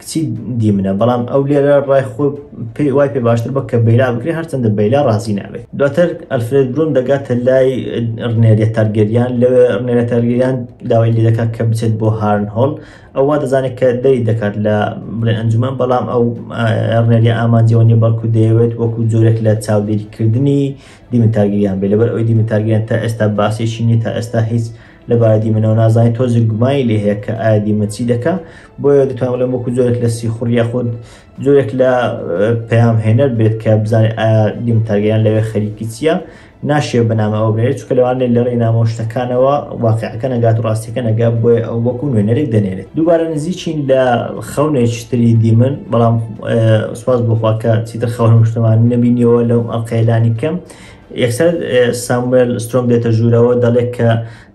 کچی دی منە بەڵام ئەو لێرە ڕای خۆ پێی وای پێ باشتر بە کە بەیلا بکرێ هەرچەندە بەیلا ڕازی نابێت دواتر ئەلفرێت برون دەگاتە لای ڕنێریە تارگەریان لەوێ ڕنێرە تارگەریان داوای لێ دەکات کە بچێت بۆ هارن هۆڵ ئەووا دەزانێت کە دەری دەکات لە بڵێ ئەنجومان بەڵام ئەو ڕنێریە ئامانجەوە نیە بەڵکو دەیەوێت وەکو جۆرێک لە چاودێریکردنی دیمن تارگەریان بێ لەبەر ئەوی دیمن تارگەریان تا ئێستا باسێکی نیە تا ئێستا هیچ لەبارە دیمەنەوە نازانێت تۆزێک گومانی لێ هەیە کە ئایا دیمەن چی دەکە بۆیە دەتوان لە وەکو زۆرێک لە سیخوڕ یاخود زۆرێک لە پەیام هێنەر بێت کە بزانێت ئایا دیم تاگەیان لەوێ خەریکی چییە ناشێ بەنامەوە بێت چکە لەوانێ لە ڕێ نامۆ شتەکانەوە واقعەکە نەگات و ڕاستیەکە نەگات بۆیە ئەو وەکو نوێنەرێک دەنێرێت دووبارە نزیچین لە خەونێکتری دیمن بەڵام سوپاس بۆخواکە چیتر خەونم شتمان نبینیەوە لەو ئەقەیلانی کەم یەکسەر ساموێل سترۆم دێتە ژوورەوە دەڵێت کە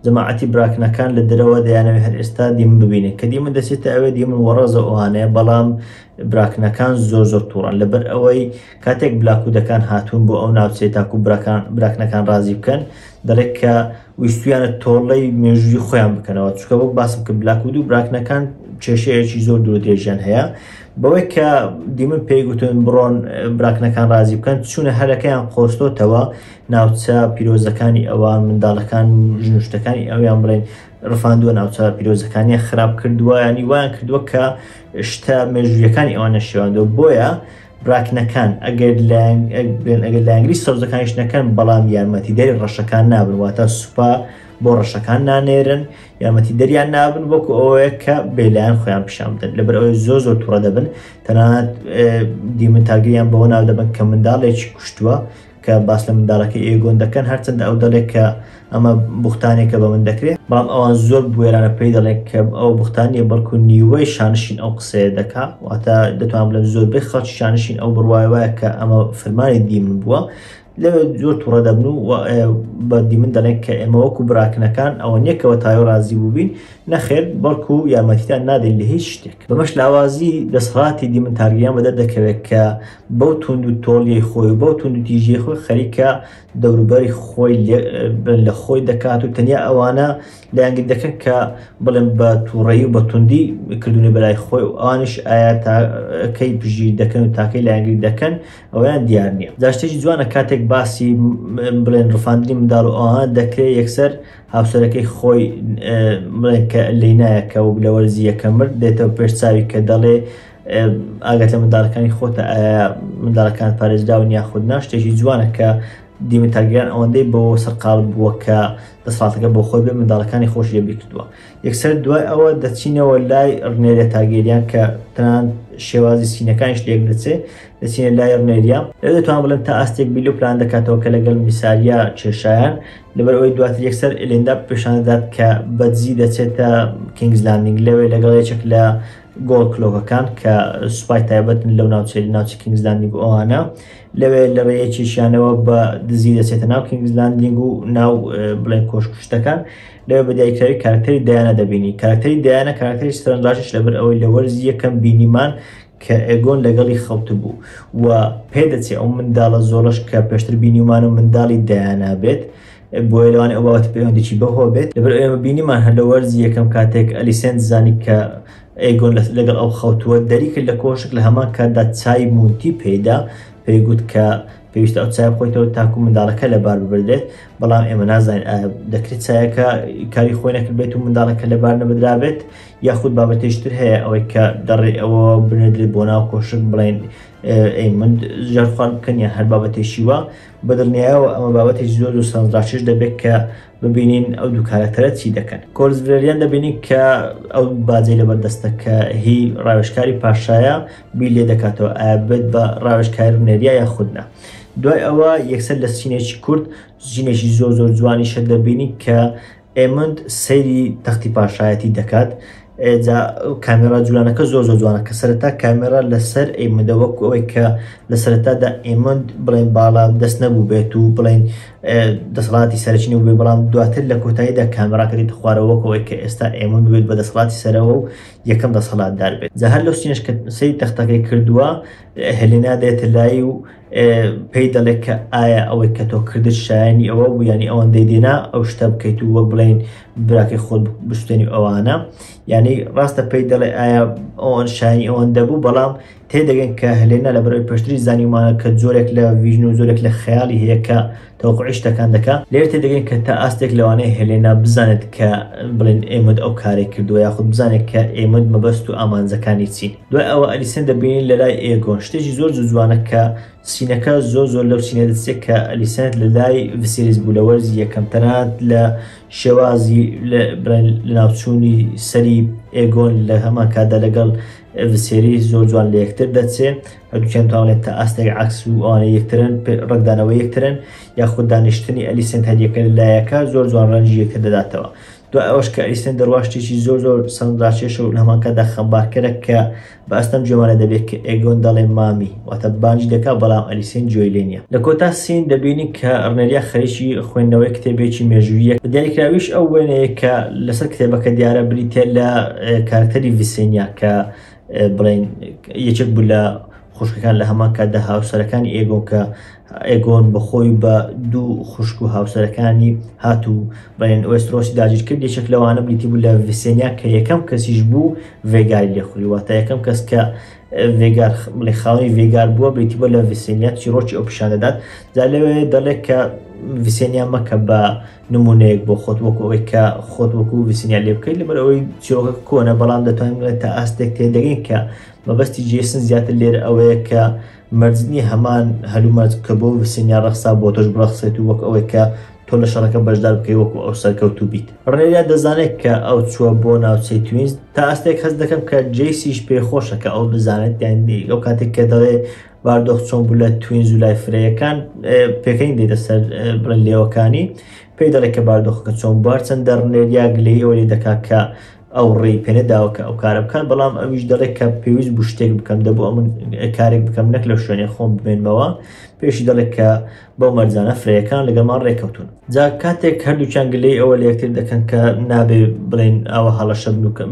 جەماعەتی براکنەکان لە درەوە دەیانەوێت هەر ئێستا دیمن ببینێت کە دیمن دەچێتە ئەوێ دیمن وەڕەزە ئەوانەیە بەڵام براکنەکان زۆر زۆر تووڕن لەبەر ئەوەی کاتێک بلاکوودەکان هاتوون بۆ ئەو ناوچێت تاکو براکان براکنەکان ڕازی بکەن دەڵێت کە ویستویانە تۆڵەی مێژووی خۆیان بکەنەوە چکە بۆ باسم کە بلاکود و براکنەکان کێشەیەکی زۆر دوو درێژیان هەیە بەوەی کە دیمن پێی گوتن بڕۆن براکنەکان رازی بکەن چونە هەرەکەیان قۆستۆتەوە ناوچە پیرۆزەکانی ئەوان منداڵەکان ژنوشتەکانی ئەویان بڵێن ڕفاندووە ناوچە پیرۆزەکانی خراپ کردووە ینی وایان کردووە کە شتە مێژویەکانی ئەوانە شێواندوە بۆیە ڕاکنەکان ئەگەر بێن ئەگەر لایەنگری سەوزەکانیش نەکەن بەڵام یارمەتی دەری ڕەشەکان نابن واتە سوپا بۆ ڕەشەکان نانێرن یارمەتی دەریان نابن وەکو ئەوەیە کە بێلایەن خۆیان پیشان بدەن لەبەر ئەوەی زۆ زۆر توڕە دەبن تەنانەت دیمن تاگەیان بەوە ناو دەبن کە منداڵێکی کوشتووە کە باس لە منداڵەکەی ئێگۆن دەکەن، هەرچەندە ئەو دەڵێت کە ئەمە بوختانێکە بە من دەکرێت، بەڵام ئەوان زۆر بوێرانە پێی دەڵێن کە ئەوە بوختان نییە، بەڵکو نیوەی شانشین ئەو قسەیە دەکا، واتە دەتوانم بڵێم زۆربەی خەڵکی شانشین ئەو بڕوای وایە کە ئەمە فەرمانی دیمن بووە. لەوێ زۆر توڕە دەبن و بە دیمن دەڵێن کە ئێمە وەکو براکنەکان ئەوە نییە کە وە تاوێ ڕازی بووبین، نەخێر بەڵکو یارمەتیتان نادەین لە هیچ شتێک. بەمەش لاوازی دەسەڵاتی دیمن تارگیریان بەدەر دەکەوێت کە بەو توندوتۆڵیەی خۆی و بەو توندوتیژیەی خۆی خەریکە دەوروبەری خۆی لە خۆی دەکات و تەنیا ئەوانە لایەنگری دەکەن کە بڵێن بە تووڕەیی و بە توندی کردوونە بەلای خۆی و ئەوانیش ئایا تاکەی پژیر دەکەن و تاکەی لایەنگری دەکەن ئەویان دیار نییە جا شتێکی جوانە کاتێک باسی بڵێن ڕفاندنی منداڵ و ئەوانە دەکرێت یەکسەر هاوسەرەکەی خۆی بڵێن کە لینایە کە و لە وەرزی یەکەم مرد دێتەوە پێش چاوی کە دەڵێ ئاگاتە منداڵەکانی خۆتە ئایا منداڵەکان پارێزراون یاخود نا شتێکی جوانە کە دیمە تاگەیان ئەوەندەی بۆ سەرقال بووە کە دەسڵاتەکە بۆ خۆی بێ منداڵەکانی خۆش لێ بیکردووە یەکسەر دوای ئەوە دەچینەوە لای ڕنێرە تاگەریان کە تەنان شێوازی سینەکانیش لێک دەچێ دەچینە لای ڕنێریا لە دەتوان بڵێن تا ئاستێک بیلو پلان دەکاتەوە کە لەگەڵ میساریا کێشایان لەبەر ئەوەی دواتر یەکسەر ئلێندا پێشاندات کە بەدزی دەچێتە کینگزلاندنگ لەوێ لەگەڵ یەکێک لە گۆڵ کلۆکەکان کە سوپای تایبەتن لەو ناوچەی ناوچی کینگز لاندینگ و ئەوانە لەوێ لە ڕێ یەکێکیانەوە بە دزی دەچێتە ناو کینگز لاندینگ و ناو بڵێن کۆشکشتەکان لەوێ بە دیاریکراوی کارکتەری دایانە دەبینی کارکتەری دایانە کارکتەری سەرنجڕاکێش لەبەر ئەوەی لە وەرزی یەکەم بینیمان کە ئێگۆن لەگەڵی خەوتبوو و پێدەچێ ئەو منداڵە زۆڵەش کە پێشتر بینیمان و منداڵی دایانا بێت بۆیە لەوانەیە ئەو باوەتە پەیوەندێکی بەوەوە بێت لەبەر ئێمە بینیمان هەر لە وەرزی یەکەم کاتێک ئەلیسێنت زانی کە ئەیگۆن لەگەڵ ئەو خەوتووە دەری کرد لە کۆشک لە هەمان کاتدا چای مونتی پێدا پێی گوت کە پێویستە ئەو چای خۆیتەوە تاکو منداڵەکە لەبار ببدرێت بەڵام ئێمە نازانین دەکرێت چایەکە کاری خۆی نەکردبێت و منداڵەکە لەبار نەبدرابێت یاخود بابەتێشتر هەیە ئەوەی کە دەڕێ ئەوە بنێدرێت بۆ ناو کۆشک بڵێن ئەی من ژەرخوارد بکەن یا هەر بابەتێکی وە بەدڵنیایەوە ئەمە بابەتێکی زۆر زۆر سازڕاکێش دەبێت کە ببینین ئەو دوو کارەکتەرە چی دەکەن کۆرس ڤلێریان دەبینین کە ئەو باجەی لەبەردەستە کە هی ڕاوێژکاری پاشایە بی لێ دەکاتەوە ئابێت بە ڕاوێژکاری بنێریا یا خودنا دوای ئەوە یەکسەر لە سینێکی کورد ژینێکی زۆر زۆر جوانیشە دەبینی کە ئێمند سەیری تەختی پاشایەتی دەکات جا کامێرا جوولانەکە زۆر زۆر جوانە کە سەرەتا کامێرا لەسەر ئێمەدە وەکو ئەوەی کە لە سەرەتادا ئێمەند بڵێن باڵا دەست نەبوو بێت و بڵێن دەسەڵاتی سەرچنی بێ بەڵام دواتر لە کۆتاییدا کامێراکە دێت خوارەوەکەوەی کە ئێستا ئێمە بێت بە دەسەڵاتی سەرەوە و یەکەم دەسەڵاتدار بێت جا هەر لەو سینش کە سەی تەختەکەی کردووە هەلێنا دێتە لای و پێی دەڵێت کە ئایا ئەوەی کە تۆ کردت شایانی ئەوە بوو ینی ئەوەندەی دێنا ئەو شتە بکەیت و وەک بڵین براکەی خۆت بستێنی ئەوانە ینی ڕاستە پێی دەڵێ ئایا ئەوان شایانی ئەوەندە بوو بەڵام تێدەگەن کە هەلێنا لە بەرەوەی پشتری زانیمانە کە زۆرێک لە ویژن و زۆرێک لە خەیاڵی هەیە کە تەوقوعی شتەکان دەکا. لێرە تێدەگەین کە تا ئاستێک لەوانەیە هێلێنا بزانێت کە بڵێن ئێمۆد ئەو کارەی کردووە یاخود بزانێت کە ئێمۆد مەبەست و ئامانجەکانی چین. دوای ئەوە ئەلیسێن دەبینین لە لای ئێگۆن شتێکی زۆر زوو جوانە کە سینەکە زۆر زۆر لەو سینە دەچێت کە ئەلیسێنت لە لای ڤسێریس بوو لە وەرزی یەکەم تەنانەت لە شێوازی بڵێن لە ناوچوونی سەری ئێگۆن لە هەمان کاتدا لەگەڵ ڤسێریس زۆر جوان لە یەکتر دەچێ هەردووکیان تاڵێن تا ئاستێک عەکس و ئەوانەی یەکترن ڕەنگدانەوەی یەکترن یاخود دانیشتنی ئەلیسنت هەریەکە لە لایەکە زۆر جوان ڕەنجی یەکتر دەداتەوە دوای ئەوەش کە ئەلیسنت دەڕوا شتێکی زۆر زۆر سەرنجڕاکێشە و لە هەمانکاتدا خەمبارکەرە کە بە ئەستەم جێمانە دەبێت کە ئێگۆن دەڵێ مامی واتە بانگی دەکات بەڵام ئەلیسنت گوێی لێ نییە لە کۆتا سین دەبینین کە ڕنێریا خەریکی خوێندنەوەی کتێبێکی مێژووییە بە دیاریکراویش ئەو وێنەیە کە لەسەر کتێبەکە دیارە بریتییە لە کارەکتەری ڤیسێنیا کە بڵین یەکێک بوو لە خوشکەکان لە هەمان کاتدا هاوسەرەکانی ئێگۆن کە ئێگۆن بەخۆی بە دوو خوشک و هاوسەرەکانی هات و بەێن ئۆسترۆسی داگیر کرد یەکێک لەوانە بلیتی بوو لە ڤسێنیا کە یەکەم کەسیش بوو ڤێگاری لێخوری واتە یەکەم کەس کە ڤێگار بڵێ خاوەی ڤێگار بووە بێتی بۆ لە ڤسێنیا چیرۆکی ئەو پیشان دەدات دا لەوێ دەڵێت کە ڤسێنیا مەکە بە نمونەیەک بۆ خۆت وەکو ئەوەی کە خۆت وەکو ویسنیا لێ بکەیت لەبەر ئەوەی چیرۆکە کۆنە بەڵام دەتوانێت تا ئاستێک تێدەگەین کە مەبەستی جێسن زیاتر لێر ئەوەیە کە مەرزنی هەمان هەلومەرج کە بۆ وسنیا ڕەخسا بۆ تۆش بڕەخسێت و وەک ئەوەی کە تۆ لە شەڕەکە بەشدار بکەی وەکو ئەو سەرکەوتو بیت ڕێریا دەزانێت کە ئەو چووە بۆ ناوچەی توینز تا ئاستێک هەست دەکەم کە جێسیش پێخۆشە کە ئەو بزانێت یان ئەو کاتێک کە دەڵێ باردۆخ چۆن بوو لە توینز و لای فرەیەکان پێکەنی دێتە سەر بڵێن لێوەکانی پێی دەڵێت کە باردۆخەکە چۆن بوار چەند دەڕنێر یا گلەی ئەوە لێ دەکات کە ئەو ڕێی پێنە داوە کە ئەو کارە بکات بەڵام ئەویش دەڵێت کە پێویست بوو شتێک بکەم دەبوو ئەمن کارێک بکەم نەک لە شوێنێ خۆم بمێنمەوە پێشی دەڵێت کە بەو مەرزانە فرەیەکان لەگەڵمان ڕێکەوتون جا کاتێک هەردووچان گلەی ئەوە لەکتر دەکەن کە نابێ بڵێن ئەوە هەڵەشە بنوکەم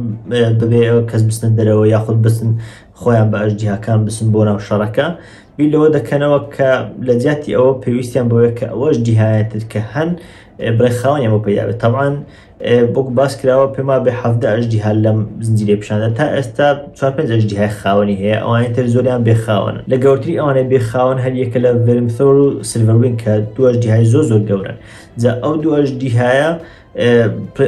دەبێ کەس بستن دەرەوە یاخود بستن خۆیان بە ئەژدیهاکان بچن بۆ ناو شەڕەکە، بیر لەوە دەکەنەوە کە لە جیاتی ئەوە پێویستیان بەوەیە کە ئەو ئەژدیهایە تر کە هەن بڵێ خاوەنیان بۆ پەیدا بێت. تەبعەن وەکو باس کراوە پێم وابێ حەڤدە ئەژدیها لەم زنجیرەی پیشاندا تا ئێستا چوار پێنج ئەژدیهای خاوەنی هەیە، ئەوانەی تر زۆریان بێ خاوەنن. لە گەورترین ئەوانەی بێ خاوەن هەر یەکە لە ڤێرمثۆر و سیلڤەروینگ کە دوو ئەژدیهای زۆر زۆر گەورەن. جا ئەو دوو ئەژدیهایە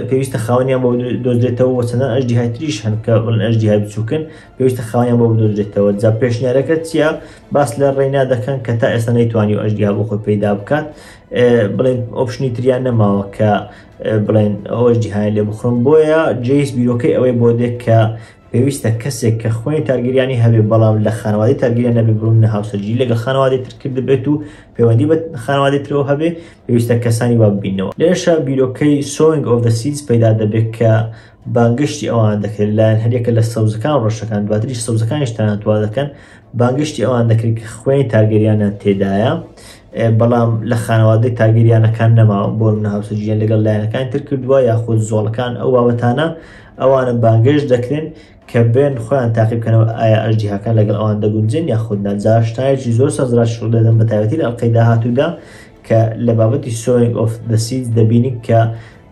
پێویستە خاوەنیان بۆ دۆزێتەوە وە چەندان ئەژدیهای تریش هەن کە بڵن ئەژدیهای بچووکن پێویستە خاوەنیان بۆ بدۆزێتەوە جا پێشنیارەکە چییە باس لە ڕێنا دەکەن کە تا ئێستا نەیتوانی و ئەژدیا بۆ خۆی پەیدا بکات بڵێن ئۆپشنی تریان نەماوە کە بڵێن ئەوەش جیهان لێ بخڕم بۆیە جیس بیرۆکەی ئەوەی بۆ دێک کە پێویستە کەسێک کە خۆنی تارگریانی هەبێ بەڵام لە خانوادی تارگریان نەبێ بۆ منە هاوسەرگیری لەگەڵ خانوادی تر کردبێت و پەیوەندی بە خانوادی ترەوە هەبێ پێویستە کەسانی وا ببینەوە لێرەشا بیرۆکەی سۆنگ ئۆف سیز پەیدا دەبێت کە بانگشتی ئەوان دەکرێت لایەن هەریەکە لە سەوزەکان ڕەشەکان دواتریش سەوزەکانیش تەنانتوا دەکەن بانگشتی ئەوان دەکرێت کە خوێنی تارگەریانە تێدایە بەڵام لە خانەوادی تاگەریانەکان نەما بۆ منە هاوسەرگیان لەگەڵ لایەنەکان تر کردووە یاخود زۆڵەکان ئەو بابەتانە ئەوانە بانگێشت دەکرێن کە بێن خۆیان تاقی بکەنەوە ئایا ئەژدیهاکان لەگەڵ ئەوان دەگونجێن یاخود نا جا شتایەکی زۆر سەرنجڕاکیش ڕوودەدەن بە تایبەتی لە ئەڵقەی داهاتوودا کە لە بابەتی Sowing of the Seeds دەبینین کە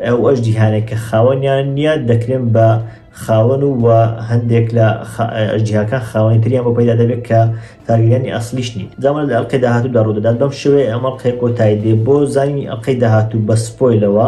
ئەو ئەژدیهانەی کە خاوەنیان نییە دەکرێن بە خاوەن و وە هەندێک لە ئەژدیهاکان خاوەنی تریان بۆ پەیدا دەبێت کە تارگریانی ئەسڵیش نین جا ئەمە لە ئەڵقەی داهاتوودا ڕوودەدات بەم شێوەیە ئەم ئەڵقەیە کۆتایی دێ بۆ زانینی ئەڵقەی داهاتوو بە سپۆیلەوە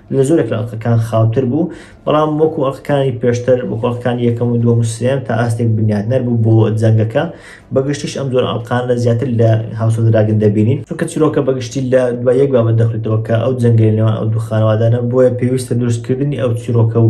لە زۆرێک لە ئەڵقەکان خاوتر بوو، بەڵام وەکو ئەڵقەکانی پێشتر، وەکو ئەڵقەکانی یەکەم و دووەم و سێیەم تا ئاستێک بنیاتنەر بوو بۆ جەنگەکە، بە گشتیش ئەم جۆرە ئەڵقانە زیاتر لە هاوس ئۆف دراگن دەبینین، چونکە چیرۆکە بە گشتی لە دوای یەک بابەت دەخولیتەوە کە ئەو جەنگەی لە نێوان ئەو دوو خانەوادانە، بۆیە پێویستە دروستکردنی ئەو چیرۆکە و